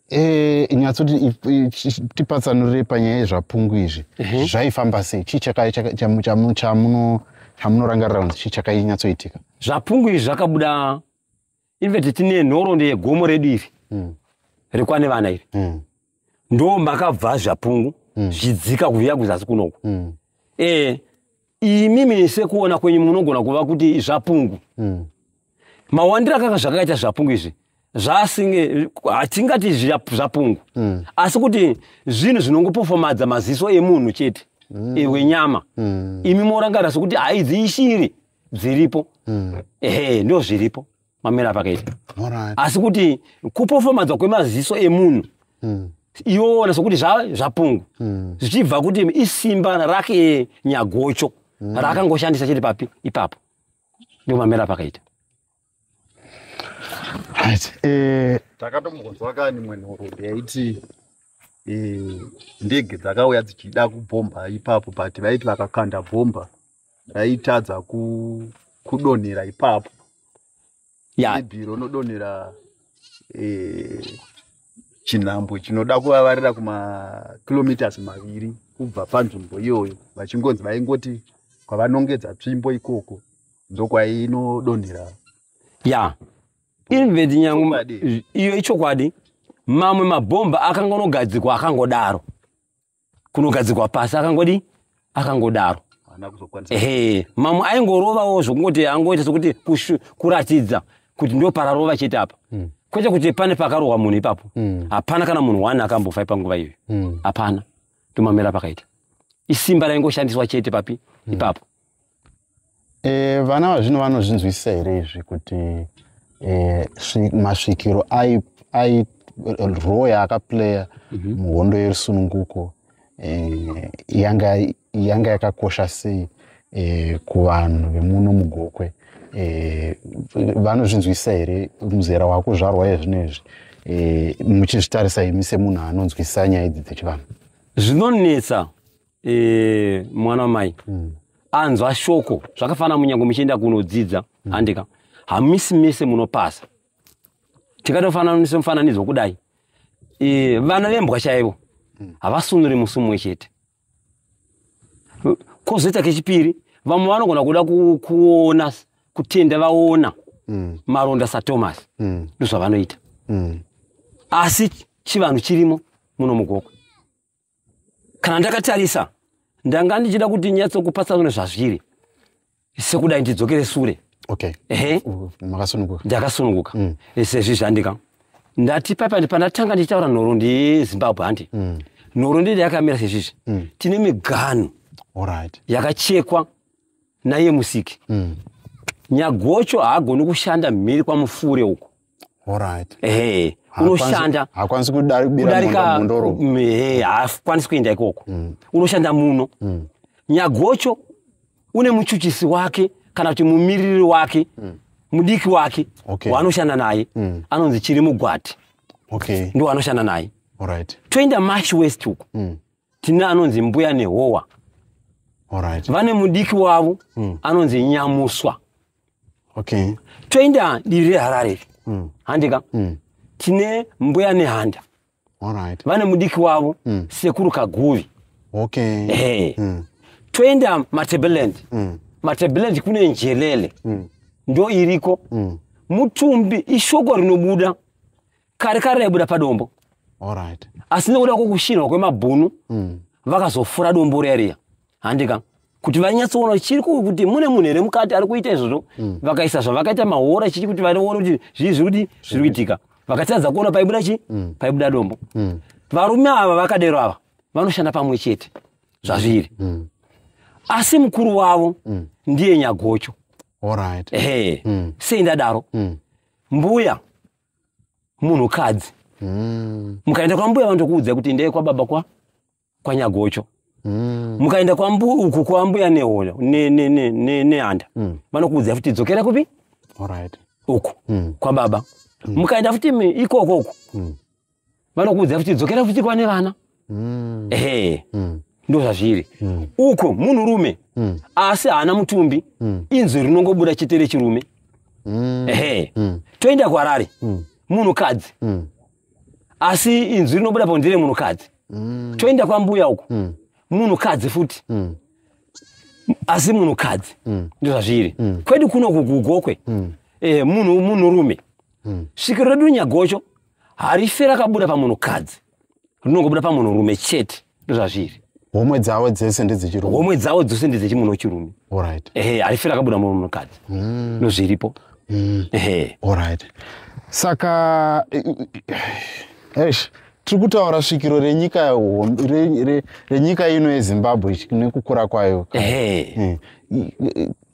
Eh, nyatsoti tipatsanurire panyaya yezvapungu izvi mhm. zvaifamba sei chii chamunorangarira kunzi chii chakainyatsoitika zvapungu izvi zvakabuda inveti tine nhorondo yegomo redu iri hmm. rekwane vana iri hmm. ndo makabva zvapungu mm. zvidzika kuviya kuzasi kunoku mm. e, imi mese kuona kwenyu munogona kuva kuti zvapungu mm. mawandiro akaka zvakaita zvapungu izvi zvasinge hatingati zvapungu mm. asi kuti zvinhu zvinongopofomadza maziso emunhu chete mm. ewenyama mm. imi morangarira sokuti haidzi ishiri dziripo mm. ehe ndo zviripo mamira apakaita asi kuti kupofomadzwa kwemaziso emunhu hmm. iona sokuti zvapungu hmm. zvichibva kuti isimba rake nyagocho hmm. raakangoshandisa chiri papi ipapo ndio mamira apakaita eh, takatomgonzwa kani mwenhoroondo yaiti eh, ndege dzakauya dzichida kubhomba ipapo but vaiti vakakanda bhomba raitadza ku kudonhera ipapo yeah. maybe ronodonhera eh, chinhambwe chinoda kuvavarira kumakilometers maviri kubva panzvimbo iyoyo vachingonzi vaingoti kwavanongedza tsvimbo ikoko ndokwayinodonhera ya yeah. inveti nyangu iyo ichokwadi mamwe mabhomba akangonogadzikwa akangodaro kunogadzikwa pasi akangodii akangodaro ehe mamwe aingorovawo zvokungoti angoita sokuti kuratidza kuti ndo pararova chete apa mm. kwete kuti pane pakarohwa munhu ipapo mm. hapana kana munhu one akambofa ipanguva iyoyo mm. hapana mm. tomamira pakaita isimba raingoshandiswa chete papi mm. ipapo e, vana vazvino vanozvinzwisisa here izvi kuti e, masvikiro airoya akaplaya mhm. muhondo yerusununguko e, yanga yakakosha sei e, kuvanhu vemuno mugokwe e, vanozvinzwisisa here muzera wakuzvarwa yezvino izvi e, muchizvitarisa imi semunhu anonzwisisa nyaya idzi dzechivanhu zvinonetsa e, mwana wamai mm. anzwa shoko zvakafanana munyango muchienda kunodzidza mm. handika hamisi mese munopasa tikatofananisa mufananidzo wokudai e, vana vembwa chaivo mm. havasunuri musi mumwe chete kozoita kechipiri vamwe vanogona kuda kuona kutenda vaona mm. maronda sathomas mm. ndozvavanoita mm. asi chivanhu chirimo muno mugokwe kana ndakatarisa ndanga ndichida kuti nyatsokupatsanure zvazviri sekudai ndidzokere sure okay. ehe makasununguka ndakasununguka mm. sezvi zvandika ndati paipa pandatanga ndichitaura nhoro ndizimbabwe handi mm. nhoro ndidi yakamira sezvizvi mm. tine miganhu right. yakachekwa naiye musiki mm. nyagocho haagoni kushanda mhiri kwamufure uko Alright. Ehe. Unoshanda. Hakwanisi kudarika mundoro. Ehe, hakwanisi kuenda ikoko. Mm. Unoshanda muno. Mm. Nyagocho une muchuchisi wake kana kuti mumiriri wake. Mm. Mudiki wake. Okay. Waanoshanda naye. Mm. Anonzi chiri mugwati. Okay. Ndo anoshanda naye. Alright. Toenda Marsh West uko. Mm. Tine anonzi mbuya nehowa. Alright. Vane mudiki wavo. Mm. Anonzi nyamuswa. okay. toenda divi reharare iri mm. handika mm. tine mbuya nehanda right. vane mudiki wavo mm. sekuru kaguvi okay. hey. mm. toenda matebeland mm. matebeland kune njelele mm. ndo iriko mm. mutumbi ishoko rinobuda kare kare raibuda padombo right. asi nekuda kwokushinhwa kwemabhunu mm. vakazofura dombo riya riya handika kuti vanyatsoona chiri kuti mune munhu here mukati ari kuita izvozvo mm. vakaisa zvavakaita mahora chichi kuti vanoona kuti zvii zviri kuti zviri kuitika vakatadza kuona paibuda chii mm. paibuda dombo mm. varume ava vakadero ava vanoshanda pamwe chete zvazviri asi mukuru wavo ndiye nyagocho ehe sei ndadaro mbuya munhukadzi mukaenda kwambuya vanotokuudza kuti ndeye kwababa kwa kwanyagocho mm. mukaenda kwambu uku kwambuya nehoyo nehanda ne, ne, ne, mm. vanokuudzai futi dzokera kupi right. uku mm. kwababa mm. mukaenda futi ikoko uku mm. vanokuudzai futi dzokera futi kwane vana mm. ehe mm ndo zvazviri mm. uko munhurume mm. asi haana mutumbi mm. inzwi rinongobuda chete rechirume mm. ehe mm. toenda kwarari mm. munhukadzi mm. asi inzwi rinobuda po ndire munhukadzi mm. toenda kwambuya uko mm. munhukadzi futi mm. asi munhukadzi mm. ndozvazviri mm. kwedu kuno kugugokwe mm. eh, munhu munhurume mm. svikiro redu nyagocho harife rakabuda pamunhukadzi rinongobuda pamunhurume chete ndozvazviri homwe dzavo dzese ndedzichirume homwe dzavo dzose ndedzechimunhu wechirume orit ehe harifira akabuda murume mukadzi mm. nozviripo mm. ehe orit saka esh tiri kutaura svikiro renyika renyika ino yezimbabwe nekukura kwayo ehe mm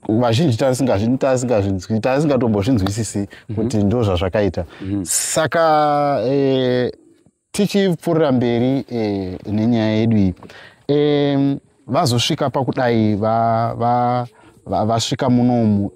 vazhinji tasingatombozvinzwisisi mhm. kuti ndo zvazvakaita mhm. saka eh, tichipfuurira mberi eh, nenyaya yedu iyi eh, vazosvika pakudai vasvika va, va, va, va munomu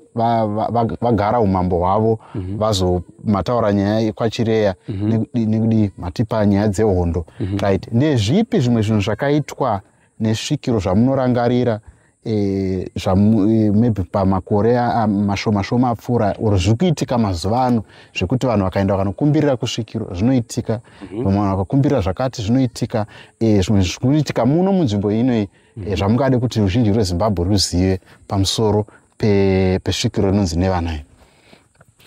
vagara umambo hwavo mhm. vazomataura nyaya yekwachireya mhm. nekudii matipa nyaya dzehondo mhm. right ndezvipi zvimwe zvinhu zvakaitwa nesvikiro zvamunorangarira e, e, maybe pamakore mashoma shoma apfuura or zviri kuitika mazuva ano zvekuti vanhu vakaenda vakanokumbirira kusvikiro zvinoitika mhm. vamwe vanhu vakakumbirira zvakati zvinoitika e, zvimwe zviri kuitika muno munzvimbo inoi mhm. zvamungade kuti ruzhinji rwezimbabwe ruzive pamusoro pesvikiro inonzi nevana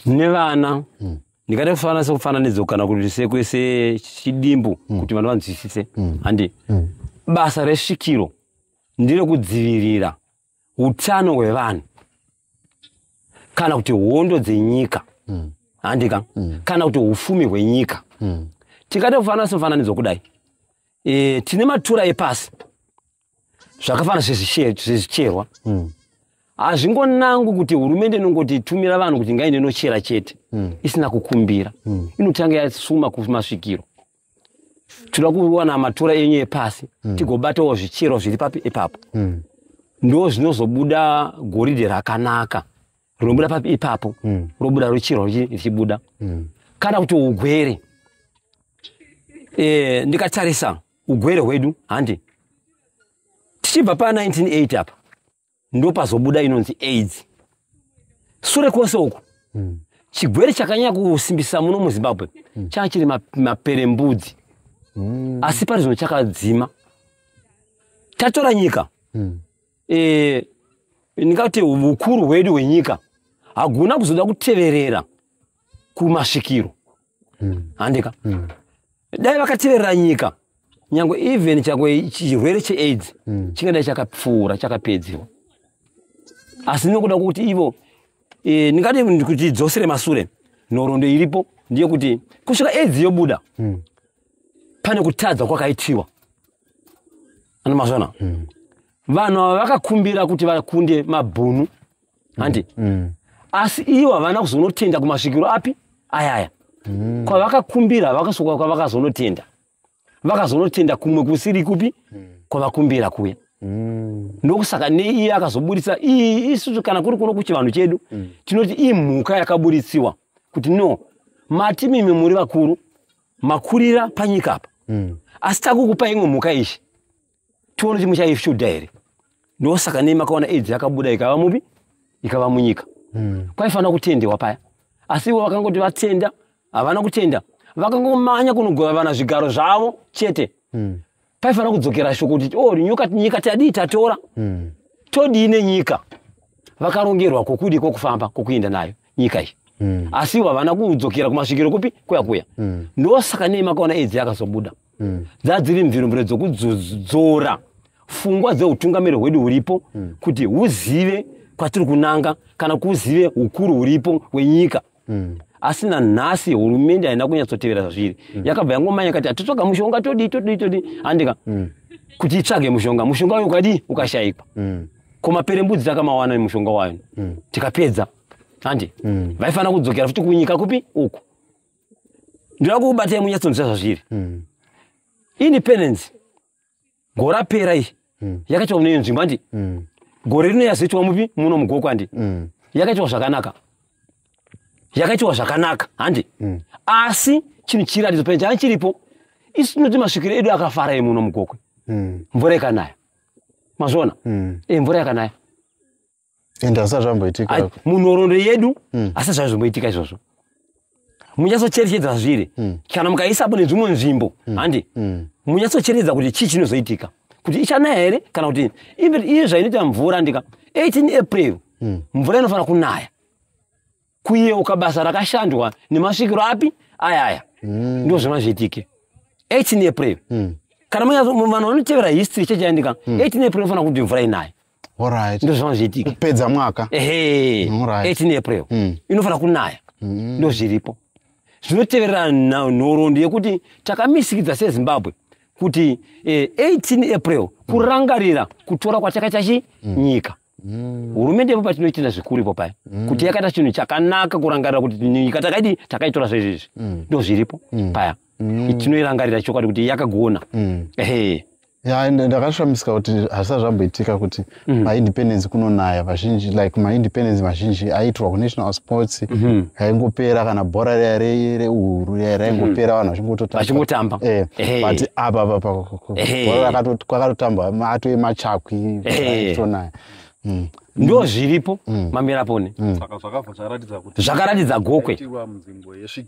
nevana hmm. ndikada kufanana sekufananidzo kana kuti sekwese chidimbu mm. kuti vanhu vanzwisise mm. handi mm. basa resvikiro ndiro kudzivirira utano hwevanhu kana kuti hondo dzenyika mm. handika mm. kana kuti ufumi hwenyika mm. tikada kufanana semufananidzo kudai e, tine matura epasi zvakafanana sezvicherwa hmm. hazvingonangwi mm. kuti hurumende inongoti tumira vanhu kuti ngaende inochera chete mm. isina kukumbira mm. inotanga yasuma kumasvikiro tinoda kuwana matura enyu epasi mm. tigobatawo zvichero zviri papi ipapo mm. ndo zvinozobuda goridhe rakanaka rinobuda papi ipapo mm. robuda rochero richibuda mm. kana kuti ugwere e, ndikatarisa ugwere hwedu handi tichibva pa 1980 apa ndopazobuda inonzi aids sure kwose uku mm. chigwere chakanyanya kusimbisa muno muzimbabwe mm. changa chiri maperembudzi mm. asi pari zvino chakadzima tatora nyika mm. e, eh, ndingati ukuru hwedu hwenyika haguna kuzoda kuteverera kumasvikiro hmm. handika hmm. dai vakateverera nyika nyange even chakwe chirwere cheaids hmm. chingadai chakapfuura chakapedziwa asi nokuda kwokuti ivo e, ndingadi kuti dzosere masure nhorondo iripo ndeyekuti kusvika aids yobuda pane kutadza kwakaitiwa anomazvana vanhu ava vakakumbira kuti vakunde mabhunu handi mm. mm. asi ivo havana kuzonotenda kumasvikiro api ayaya mm. kwavakakumbira vakasoka kwavakazonotenda vakazonotenda kumwe kusiri kupi mm. kwavakumbira kuya mm. ndokusaka neiye akazoburitsa ii isusu kana kuri kuno kuchivanhu chedu mm. tinoti imhuka yakaburitsiwa kuti no mati mimi muri vakuru makurira panyika apa mm. asi takukupa imwe mhuka ishi tione kuti muchaifyudha here ndosaka nei makaona aids yakabuda ikava mupi ikava munyika mm. kwaifanira kutendewa paya asi ivo vakangoti vatenda havana kutenda vakangomanya kunogova vana zvigaro zvavo chete mm. paifanira kudzokera shoko kuti o oh, nyuka nyika tadii tatora mm. todii nenyika vakarongerwa kwokudi kwokufamba kwokuenda nayo nyika iyi mm. asi ivo havana kudzokera kumasvikiro kupi kuya kuya mm. ndosaka nei makaona edzi yakazobuda mm. dzadziri mviromviro dzokudzora fungwa dzeutungamiri hwedu huripo mm. kuti huzive kwatiri kunanga kana kuzive hukuru huripo hwenyika mm asi nanhasi hurumende haina kunyatsotevera zvazviri mm. yakabva yangomanya yakati atitsvaga mushonga todii todii todii handika mm. kuti itsvage mushonga mushonga uyo ukadii ukashaikwa mm. ko maperembudzi takamawana mushonga wayo mm. tikapedza handi mm. vaifanira kudzokera futi kunyika kupi uku ndinoda kukubatai munyatsonzwa zvazviri mm. independence gore rapera iyi mm. yakaitwa mune nzvimbo handi mm. gore rino yazoitwa mupi muno mugoko handi mm. yakaitwa zvakanaka yakaitwa zvakanaka handi mm. asi chinhu chiratidzo pene changa chiripo isu tinoti masvikiro edu akafara emuno mugokwe mm. mvura ikanaya mazviona mm. e, mvura yakanaya ende asati zvamboitika munhoroondo yedu mm. asati zvave zvimboitika izvozvo munyatsocherechedza zviri mm. kana mukaisapo nedzvimwe nzvimbo hmm. handi mm. mm. munyatsocherechedza kuti chii chinozoitika kuti ichanaya here kana kuti iye zvainoita mvura ndika 18 april mm. mvura inofanira kunaya kuyeuka basa rakashandwa nemasvikiro api ayaya mm. ndo zvima zviitike 18 april mm. kana vanhu vanotevera history chechaendika mm. 18 april fanira kuti mvura inaye right. ndo zvima zviitike kupedza mwaka ehe mm, right. 18 april mm. inofanira kunaya mm. ndo zviripo zvinoteverera nhoroondo yekuti takamisikidza sezimbabwe kuti eh, 18 april kurangarira kutora kwatakaita chi mm. nyika Mm. hurumende ipo patinoitira zvikuru ipo paya mm. kuti yakaita chinhu chakanaka kurangarira kuti nyika takaidi takaitora zvezvizvi mm. ndo zviripo mm. paya mm. tinoirangarira chokwadi kuti yakagona mm. ehe ya ndakashamisika kuti hazvisati zvamboitika kuti mm. maindependence kunonaya vazhinji like maindependence mazhinji aiitirwa kunational sports mm-hmm. aingopera kana bhora riya reuru riya raingopera mm-hmm. vanhu vachingototamba vachingotamba eh, but apa apa kwakatotamba atove machakwi tonaya mm. ndo zviripo mm. mamira pone mm. zvakaratidza gokwe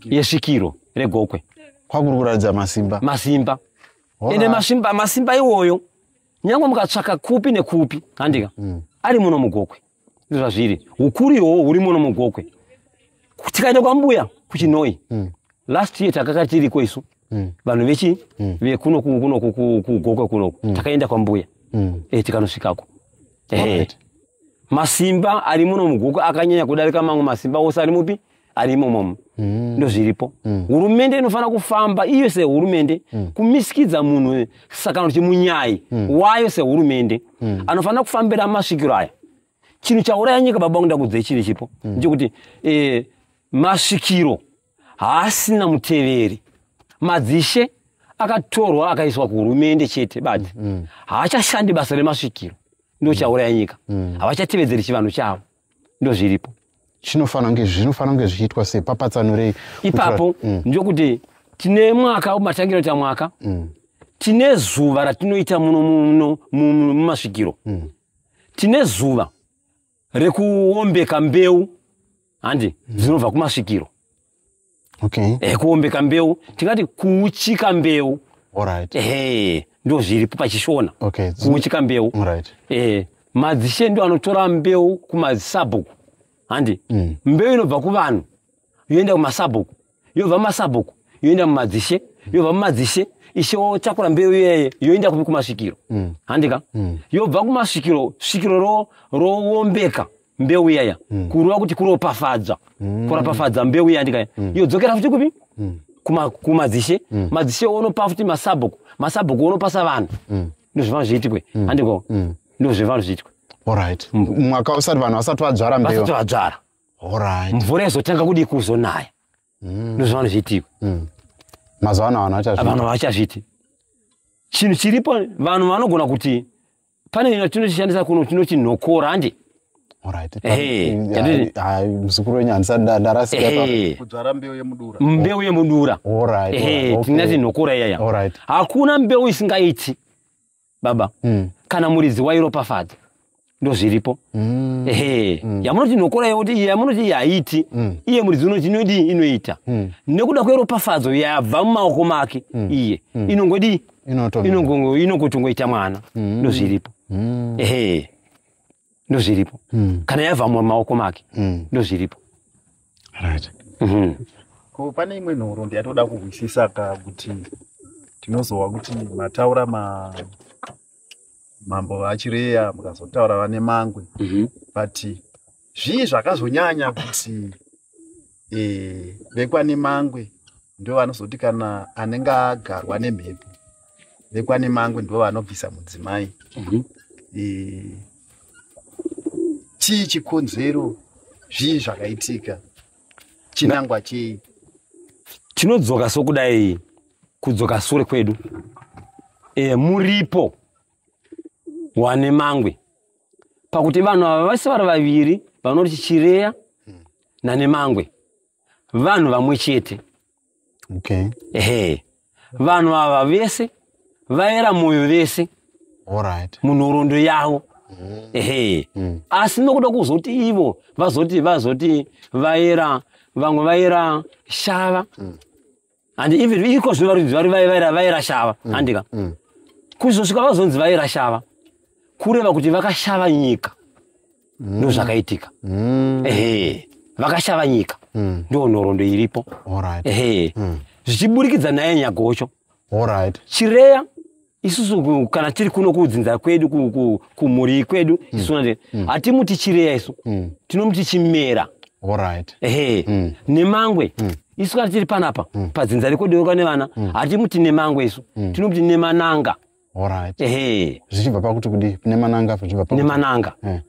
yesvikiro regokwe kwakuri kuratidza masimba masimba ende masimba iwoyo nyange mukatsvaka kupi nekupi handika ari muno mugokwe zvazviri ukuru ihoho huri muno mugokwe tikaenda kwambuya kuchinoi mm. last year takaka tiriko isu mm. vanhu vechi mm. vekuno kuno kugokwe kunoku mm. takaenda kwambuya mm. e, tikanosvikako masimba ari muno mugokwe akanyanya kudarika mamwe masimba ose ari mupi ari imomo mm. ndozviripo mm. hurumende inofanira kufamba iyo sehurumende mm. kumisikidza munhu sakano kuti munyai mm. wayo sehurumende mm. anofanira kufambira masvikiro aya chinhu chauraya nyika baba kuda kudzei chiri chipo mm. ndechekuti e, masvikiro haasina muteveri madzishe akatorwa akaiswa kuhurumende chete badi mm. haachashandi basa remasvikiro ndochauraya nyika mm. havachatevedzeri chivanhu chavo ndozviripo zvinofanira kunge zvinofanira kunge zvichiitwa sei papatsanurei ipapo mm. ndokuti tine mwaka matangira kuita mwaka mm. tine zuva ratinoita muno muno mumasvikiro mm. tine zuva rekuombeka mbeu handi dzinobva kumasvikiro okay. eh, kuombeka mbeu tingati kuuchika mbeu right. eh, ndo zviripo pachishona okay. kuuchika mbeu right. eh, madzishe ndo anotora mbeu kumasabhuku handi mm. mbeu inobva kuvanhu yoenda kumasabhuku yobva masabhuku yoenda mumadzishe yobva mumadzishe ishe wotakura mbeu iyeye yoenda kupi kumasvikiro mm. handika mm. yobva kumasvikiro svikiro roombeka ro, mbeu iyaya mm. kureva kuti kuropafadza mm. kuropafadza mbeu iya ndikaya mm. yodzokera futi kupi mm. kumadzishe mm. madzishe onopa futi masabhuku masabhuku onopasa vanhu mm. ndozvivanhu zviitikwe mm. handiko mm. ndozvivanhu zviitikwe orit mm. mwaka usati vanhu vasati vadzvara mbeu vasati vadzvara orit mvura izotanga kudii kuzonaya mm. ndozvivanhu zviitikwe mm. mazuva ano vanhu vachazviti chinhu chiripo vanhu vanogona kuti pane nyaya tinochishandisa kuno tinoti nhokora handi muzukuru wenyu handisa ndarasikudzvara mbeu yemudura mbeu yemudura tinati nhokora iyaya hakuna mbeu isingaiti baba hmm. kana muridzi wairopafadza ndozviripo hmm. ehe hmm. yamunoti nhokora yoti yamunoti yaiti iye muridzi unoti inodii inoita nekuda kweropafadzo yabva mumaoko make iye inongodii inokutongoita mwana mm. ndozviripo mm. ehe ndozviripo mm. kana yava mumaoko make ndozviripo right mhm. ko pane imwe nhoro ndiyatoda kuhwisisa ka kuti tinozowa kuti mataura ma mambo vachireya mukazotaura vane mangwe mhm. but zvii zvakazonyanya kuti eh, vekwanemangwe ndo vanozoti kana anenge agarwa nemhepo vekwanemangwe ndo vanobvisa mudzimai mhm. eh, chii chikonzero zvii zvakaitika chinangwa chei tinodzoka sokudai kudzoka sure kwedu e, muripo wane mangwe pakuti vanhu ava vese vari vaviri vanoti chireya nanemangwe vanhu vamwe chete okay. ehe vanhu ava vese vaera mwoyo vese right. munhorondo yavo mm. ehe mm. asi nokuda kuzoti ivo vazoti vazoti vaera vamwe vaera shava mm. and even iko zvino vari vari vai- vai- vairashava Mm. handika kuzosvika vazonzi vairashava kureva kuti vakashava nyika Mm. ndozvakaitika ehe vakashava nyika Mm. ndiyo nhoroondo iripo Alright. ehe zvichiburikidza naye nyagocho Alright. chireya isusu kana tiri kuno kudzinza kwedu kumhuri kwedu mm. isu mm. mm. hatimuti chireya isu mm. tinomuti chimera right. ehe mm. nemangwe mm. isu kana tiri panapa mm. padzinza rekodeuka nevana mm. hatimuti nemangwe isu mm. tinomuti nemananga right. ehe zvichibva pakuti kudi nemananga zvichibva pakuti nemananga eh.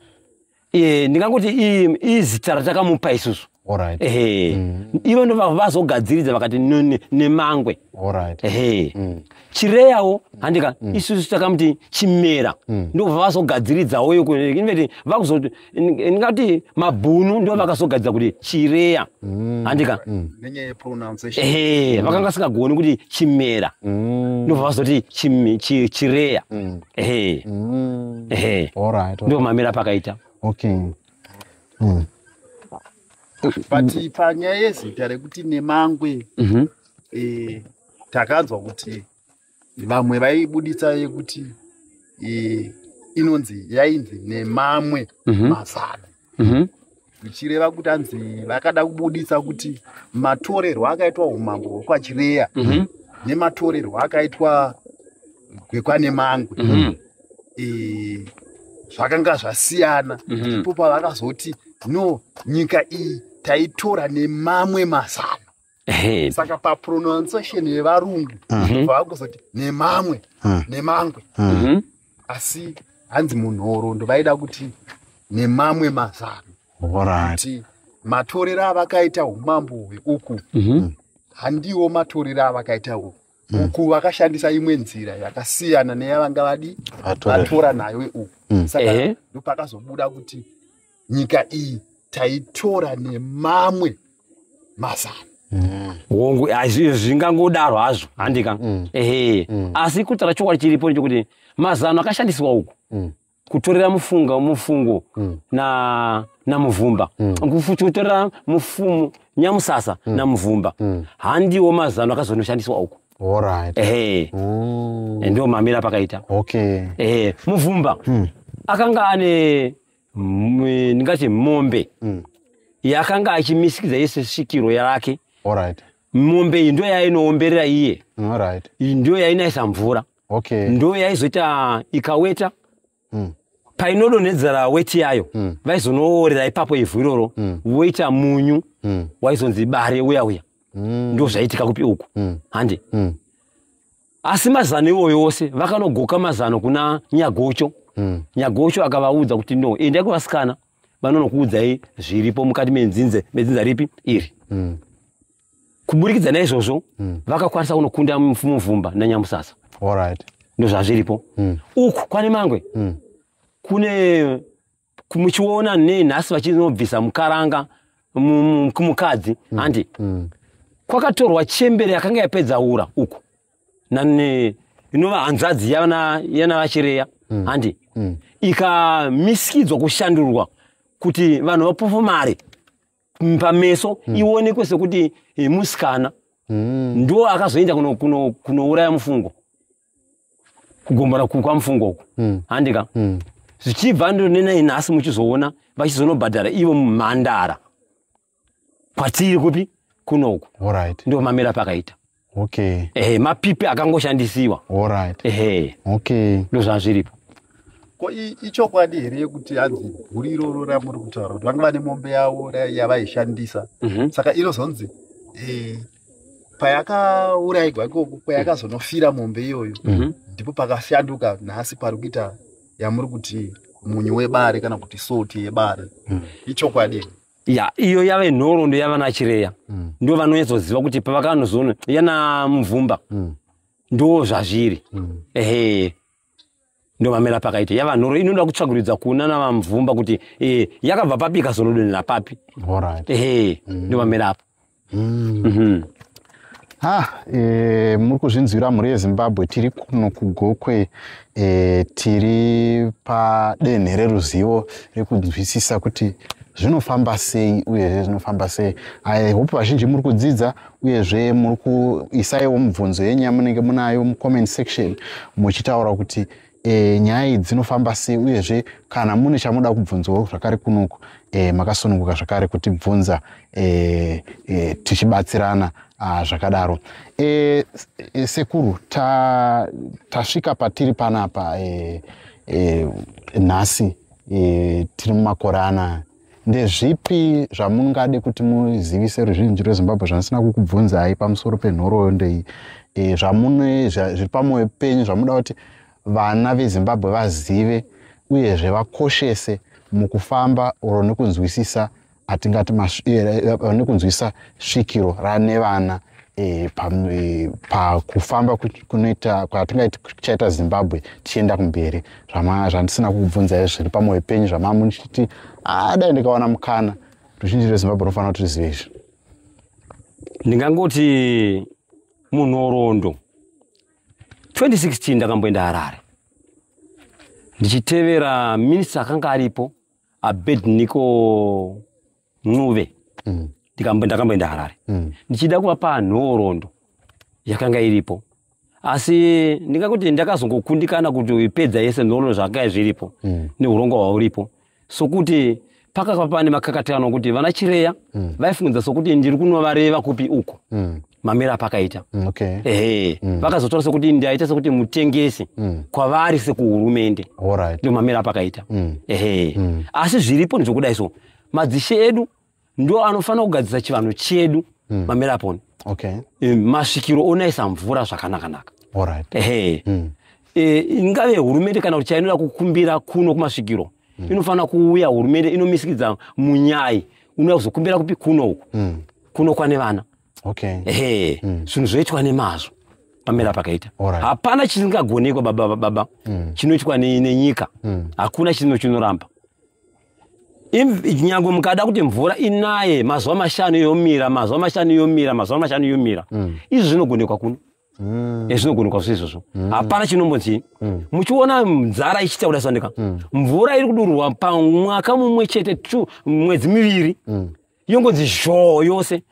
Eh, ndingangoti i- izita ratakamupa isusu Alright. ehe Mm. ivo ndo va- vazogadziridza vakati no- ne- nemangwe Alright. ehe Mm. chireyawo handika isusu takamuti chimera Mm. ndo vavazogadziridzawo yoko inveti vakuzoti ndingati mabhunu ndo vakazogadziridza kuti chireya Mm. handika Mm. nenyaya yepronunciation ehe vakanga singagoni kuti chimera Mm. ndo vavazoti chim- chi- chireya Mm. ehe Mm. ehe All right. ndio mamira pakaita Okay. Mm. but panyaya yezita rekuti nemangwe Mhm. eh, takanzwa kuti vamwe vaibuditsa yekuti eh, inonzi yainzi nemamwe Mhm. mazavi mhm. zvichireva kuti anzi vakada kubudisa kuti matorerwo akaitwa umambo hwekwachireya mhm. nematorerwo akaitwa gwekwanemangwe mhm. e, zvakanga zvasiyana ipo pavakazoti no nyika iyi taitora nemamwe mazano saka papronunciation yevarungu mhm. vakuzoti nemamwe hmm. nemangwe hmm. mhm. asi hanzi munhoroondo vaida kuti nemamwe mazano kuti matorero avakaita umambo hweuku mhm. handiwo matorero avakaita uku hmm. uku vakashandisa imwe nzira yakasiyana neyavanga vadi vatora nayo uku saka ndopakazobuda kuti nyika iyi taitora nemamwe mazana mm. hongu zvingangodaro hazvo handika mm. ehe mm. asi kutaura chokwadi chiripo nechokuti mazano akashandiswa uku kutorera mufunga mufungo namuvumba kutorera mufumu nyamusasa namuvumba handiwo mazano akazonoshandiswa uku ehe ndio mamira pakaita muvumba akanga ane ndingati mombe mm. yakanga achimisikidza yese svikiro yake right. mombe iyi ndo yainoomberera iye mm, right. ndo yainaisa mvura okay. ndo yaizoita ikaweta mm. painodonhedzera weti yayo mm. vaizonoorera ipapo ivhu iroro mm. voita munyu mm. waizonzi bare uya uya mm. ndo zvaitika kupi uku mm. hande mm. asi mazano iwoyo ose vakanogoka mazano kuna nyagocho mm. nyagocho akavaudza kuti no endai kuvasikana vanonokuudzai zviripo mukati menzinze medzinza ripi iri mm. kuburikidza naizvozvo mm. vakakwanisa kunokunda mufumuvumba nanyamusasa right. ndozvazviripo mm. uku kwane mangwe mm. kune muchiona nei nhasi vachinobvisa mukaranga kumukadzi mm. handi mm. kwakatorwa chembere yakanga yapedza ura uku nane inova hanzvadzi yanavachireya mm. handi mm. ikamisikidzwa kushandurwa kuti vanhu vapofu mari pameso mm. ionekwe sekuti eh, musikana mm. ndo akazoenda kunouraya kuno, kuno mufungo kugombana kwamufungo uku hmm. handika hmm. zvichibva ndonenai nhasi muchizoona vachizonobhadhara ivo mumhandara kwatiri kupi kunoku ndo mamira pakaita okay. ehe mapipi akangoshandisiwa ehe okay. ndo zvazviripo ko ichokwadi here yekuti hanzi guri iroro ramuri kutaura kuti vanga vane mombe yavo yavaishandisa mm -hmm. saka inozonzi eh, payakauraigwa ikoko payakazonofira mombe iyoyo mhm. ndipo pakafyanduka nhasi pari kuita yamuri kuti munyu webare kana kuti soti yebare mhm. ichokwadi ya iyo yave nhorondo yavana chireya mhm. ndo vanonyatsoziva kuti pavakanozoona yana mvumba ndo zvazviri ehe ndomamera pakaita yava nhoro inoda kutsvaguridza kuna navamvumba kuti e, yakabva papi ikazonodonhera papi ehe mm. ndomamera apo mm. mhm. ha e, muri kuzvinzwira mhuri yezimbabwe tiri kuno kugokwe e, tiri padenhe reruzivo rekunzwisisa kuti zvinofamba sei uyezve zvinofamba sei i hope vazhinji muri kudzidza uyezve muri kuisaiwo mibvunzo yenyu yamunenge munayo mucomment section muchitaura kuti e, nyaya idzi dzinofamba sei uyezve kana mune chamuda kubvunzawo zvakare kunoku e, makasununguka zvakare kutibvunza e, e, tichibatsirana ah, zvakadaro e, e, sekuru tasvika ta patiri panapa e, e, nhasi e, tiri mumakore anaya ndezvipi zvamungade kuti muzivise ruzhinji rwezimbabwe zvandisina kukubvunzai pamusoro penhoroondo iyi e, zvamune zviri pamwoyo penyu zvamuda kuti vana vezimbabwe vazive uyezve vakoshese mukufamba oro nekunzwisisa atingati e, e, nekunzwisisa svikiro rane vana e, pakufamba pa kunoita kwatinga tichaita zimbabwe tichienda kumberi zvandisina kukubvunzai zviri pamwoyo penyu zvamamuniti ah, dai ndikawana mukana ruzhinji rwezimbabwe runofanira kuti rizive izvi ndingangoti munhorondo 2016 ndakamboenda harare ndichitevera minista akanga aripo abednico ncube mm. ndakamboenda harare mm. ndichida kuvapa nhorondo yakanga iripo asi ndingakuti ndakazongokundikana kuti ipedza yese nhorondo zvakanga zviripo mm. neurongwa hwauripo sokuti pakakava pane makakatikano kuti vana chireya mm. vaifungidza sokuti ndiri kunovareva kupi uko mm. mamira apakaita mm, okay. ehe mm. vakazotora sokuti ndaita sokuti mutengesi mm. kwavari sekuhurumende right. ndomamira apakaita mm. ehe mm. asi zviripo ndizvokudai so madzishe edu ndo anofanira kugadzisa chivanhu chedu mm. mameraponi okay. e, masvikiro onaisa mvura zvakanakanaka right. ehe mm. e, ingave hurumende kana kuti chainoda kukumbira kuno kumasvikiro mm. inofanira kuuya hurumende inomisikidza munyai unoda kuzokumbira kupi kuno uku mm. kuno kwane vana okay. ehe mm. zvinhu mm. zvoitwa nemazvo pamera pakaita right. hapana chisingagonekwa baba baba mm. chinoitwa nenyika mm. hakuna chinhu chinoramba nyangwe mukada kuti mvura inaye mazuva mashanu yomira mazuva mashanu yomira mazuva mashanu yomira mm. izvi zvinogonekwa kuno mm. eh, zvinogonekwa zvo izvozvo mm. hapana chinombonzi muchiona nzara ichiita kuda sandika mvura iri kudururwa pamwaka mumwe chete t mwedzi miviri yongonzi zhoo yose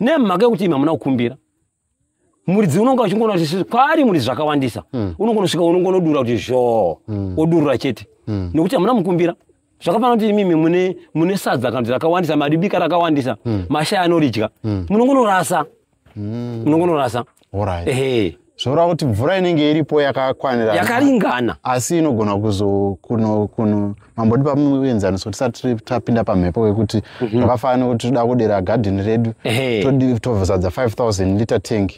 nemhaka yekuti imi hamuna kukumbira muridzi unonga uchingoona kuti kwaari muridzi zvakawandisa mm. unongonosvika unongonodura kuti zvoo mm. odurura chete mm. nekuti hamuna mukumbira zvakafanana kuti imimi mune, mune sadza kana kuti rakawandisa madibika rakawandisa mm. mashaya anoridya mm. munongonorasa mm. munongonorasa right. ehe zvoreva kuti mvura inenge iripo yakakwanira yakaringana asi inogona kuzo kuno kuno mambo ndipa muenzaniso tisati tapinda pamhepo wekuti mhm. zvakafanana mm -hmm. nekuti toda kudera gadheni redu tozadza 5000 liter tank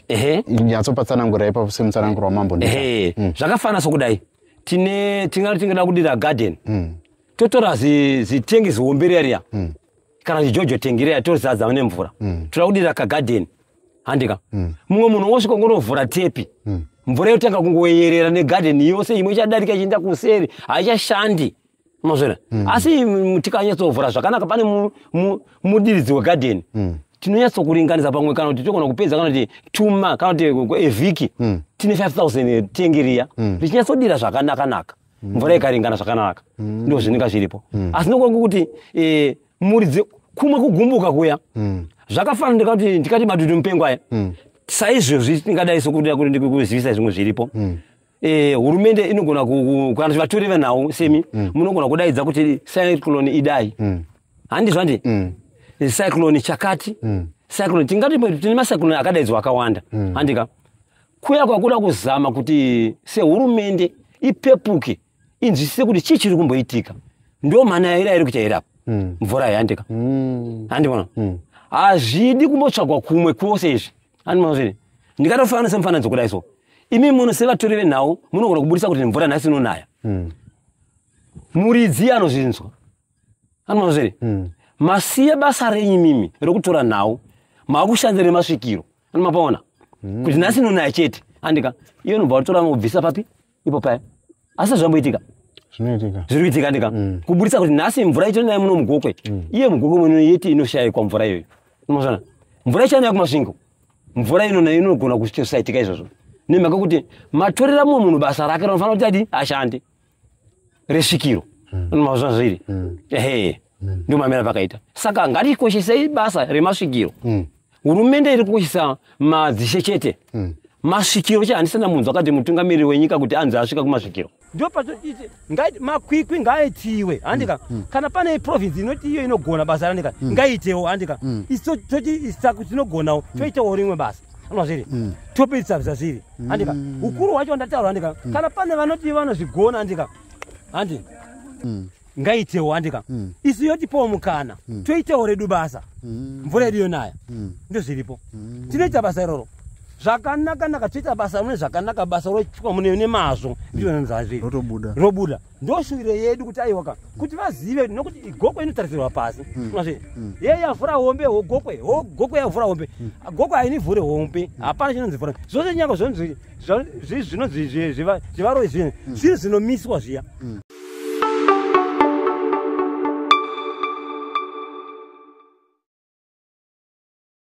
nyatsopatsanangura ipapo semutsananguro wamambo mm. zvakafanana sokudai tine tingati tingada kudira gadheni mm. totora zitengi zihombe reriya mm. kana kuti jojo tengireya tozadza mune mvura mm. toda kudira kagadheni handika mm. mumwe mm. munhu wosvika ngonovhura tepi mm. mvura yotanga kungoyerera negadheni yose imwe ichadarika ichienda kuseri haichashandi mazvona mm. asi tikanyatsovhura zvakanaka pane mudiridzi mu, mu wegadheni mm tinonyatsokuringanisa pamwe kana kuti togona kupedza kana kuti tuma kana kuti evhiki mm. tine 5000 tengiriya mm. richinyatsodira zvakanakanaka mm. mvura ikaringana zvakanaka mm. ndo zvinenga zviripo mm. asi nokuva kuti e, eh, muridzi kumwe kugumbuka kuya mm. zvakafanana ndikati ndikati madudu mupengo aya mm. saizvozvi tingadai sokuda kuti ndikuzivisa zvimwe zviripo mm. Eh, hurumende e, inogona kana zvivatori venhau semi mm. munogona mm. kudaidza kuti cyclone idai mm. handi zvandi mm. cyclone chakati mm. cyclone tingati tine macyclone akadaidzwa akawanda mm. handika kuya kwakuda kuzama kuti sehurumende ipepuke inzwisise kuti chii chiri kumboitika ndo mhana yaira iri kuchaira apa hmm. mvura yayandika hmm. handibona hmm. hazvidi kumbotsvagwa kumwe kwose izvi handibona zviri ndikatofanana semufananidzo kudai so imi muno sevatori venhau munogona kuburitsa kuti mvura nhasi inonaya muridzi anozvinzwa handibona zviri masiye basa renyu mimi rekutora nhau maakushandira nemasvikiro mapaona mm. kuti nhasi nonaya chete andika iyo nobva watora nobvisa papi ipo paya asi zvamboitika zvinoitika zviri kuitika andika mm. kuburitsa kuti nhasi mvura ichiri nayo muno mugokwe mm. iye mugokwe muno yeti inoshayikwa mvura iyoyo unoona mvura ichiri nayo kumasvingo mvura ino nayo inogona kusaitika izvozvo nemhaka kuti matorera mumwe munhu basa rake rinofanira kuti adi ashande resvikiro mm. mazuva zviri mm. ehe mm. ndio mamira pakaita saka ngatikoshesei basa remasvikiro mm. hurumende iri kukoshesa madzishe chete mm masvikiro che handisana munhu akati mutungamiri wenyika kuti anzi asvika kumasvikiro ndo patoite makwikwi ngaaitiwe handika mm, mm. kana pane province inoti iyo inogona basa randika mm. ngaaitewo handika mm. toti isaku tinogonawo mm. toitawo rimwe basa anwa zviri mm. topedzisa zvazviri andika mm. ukuru wacho wandataura andika mm. kana pane vanoti vanozvigona andika handi ngaitewo andika isu yotipowo mukana toitewo redu basa mvura yedu yonaya ndozviripo tinoita basa iroro zvakanaka naka toita basa mune zvakanaka basa roitwa mune mazvo ndionanzazviri robuda ndoshuviro yedu kuti aiwaka kuti vazive nokuti igokwe inotarisirwa pasi hmm. azve hmm. ye yavhura hombe hogokwe hogokwe yavhura hombe hmm. gokwe hainivhure hombe hapana chinonzi vhura zvose nyanga zvinonzi zvinonzi zvivaroi zvinhu zvinhu zvinomiswa zviya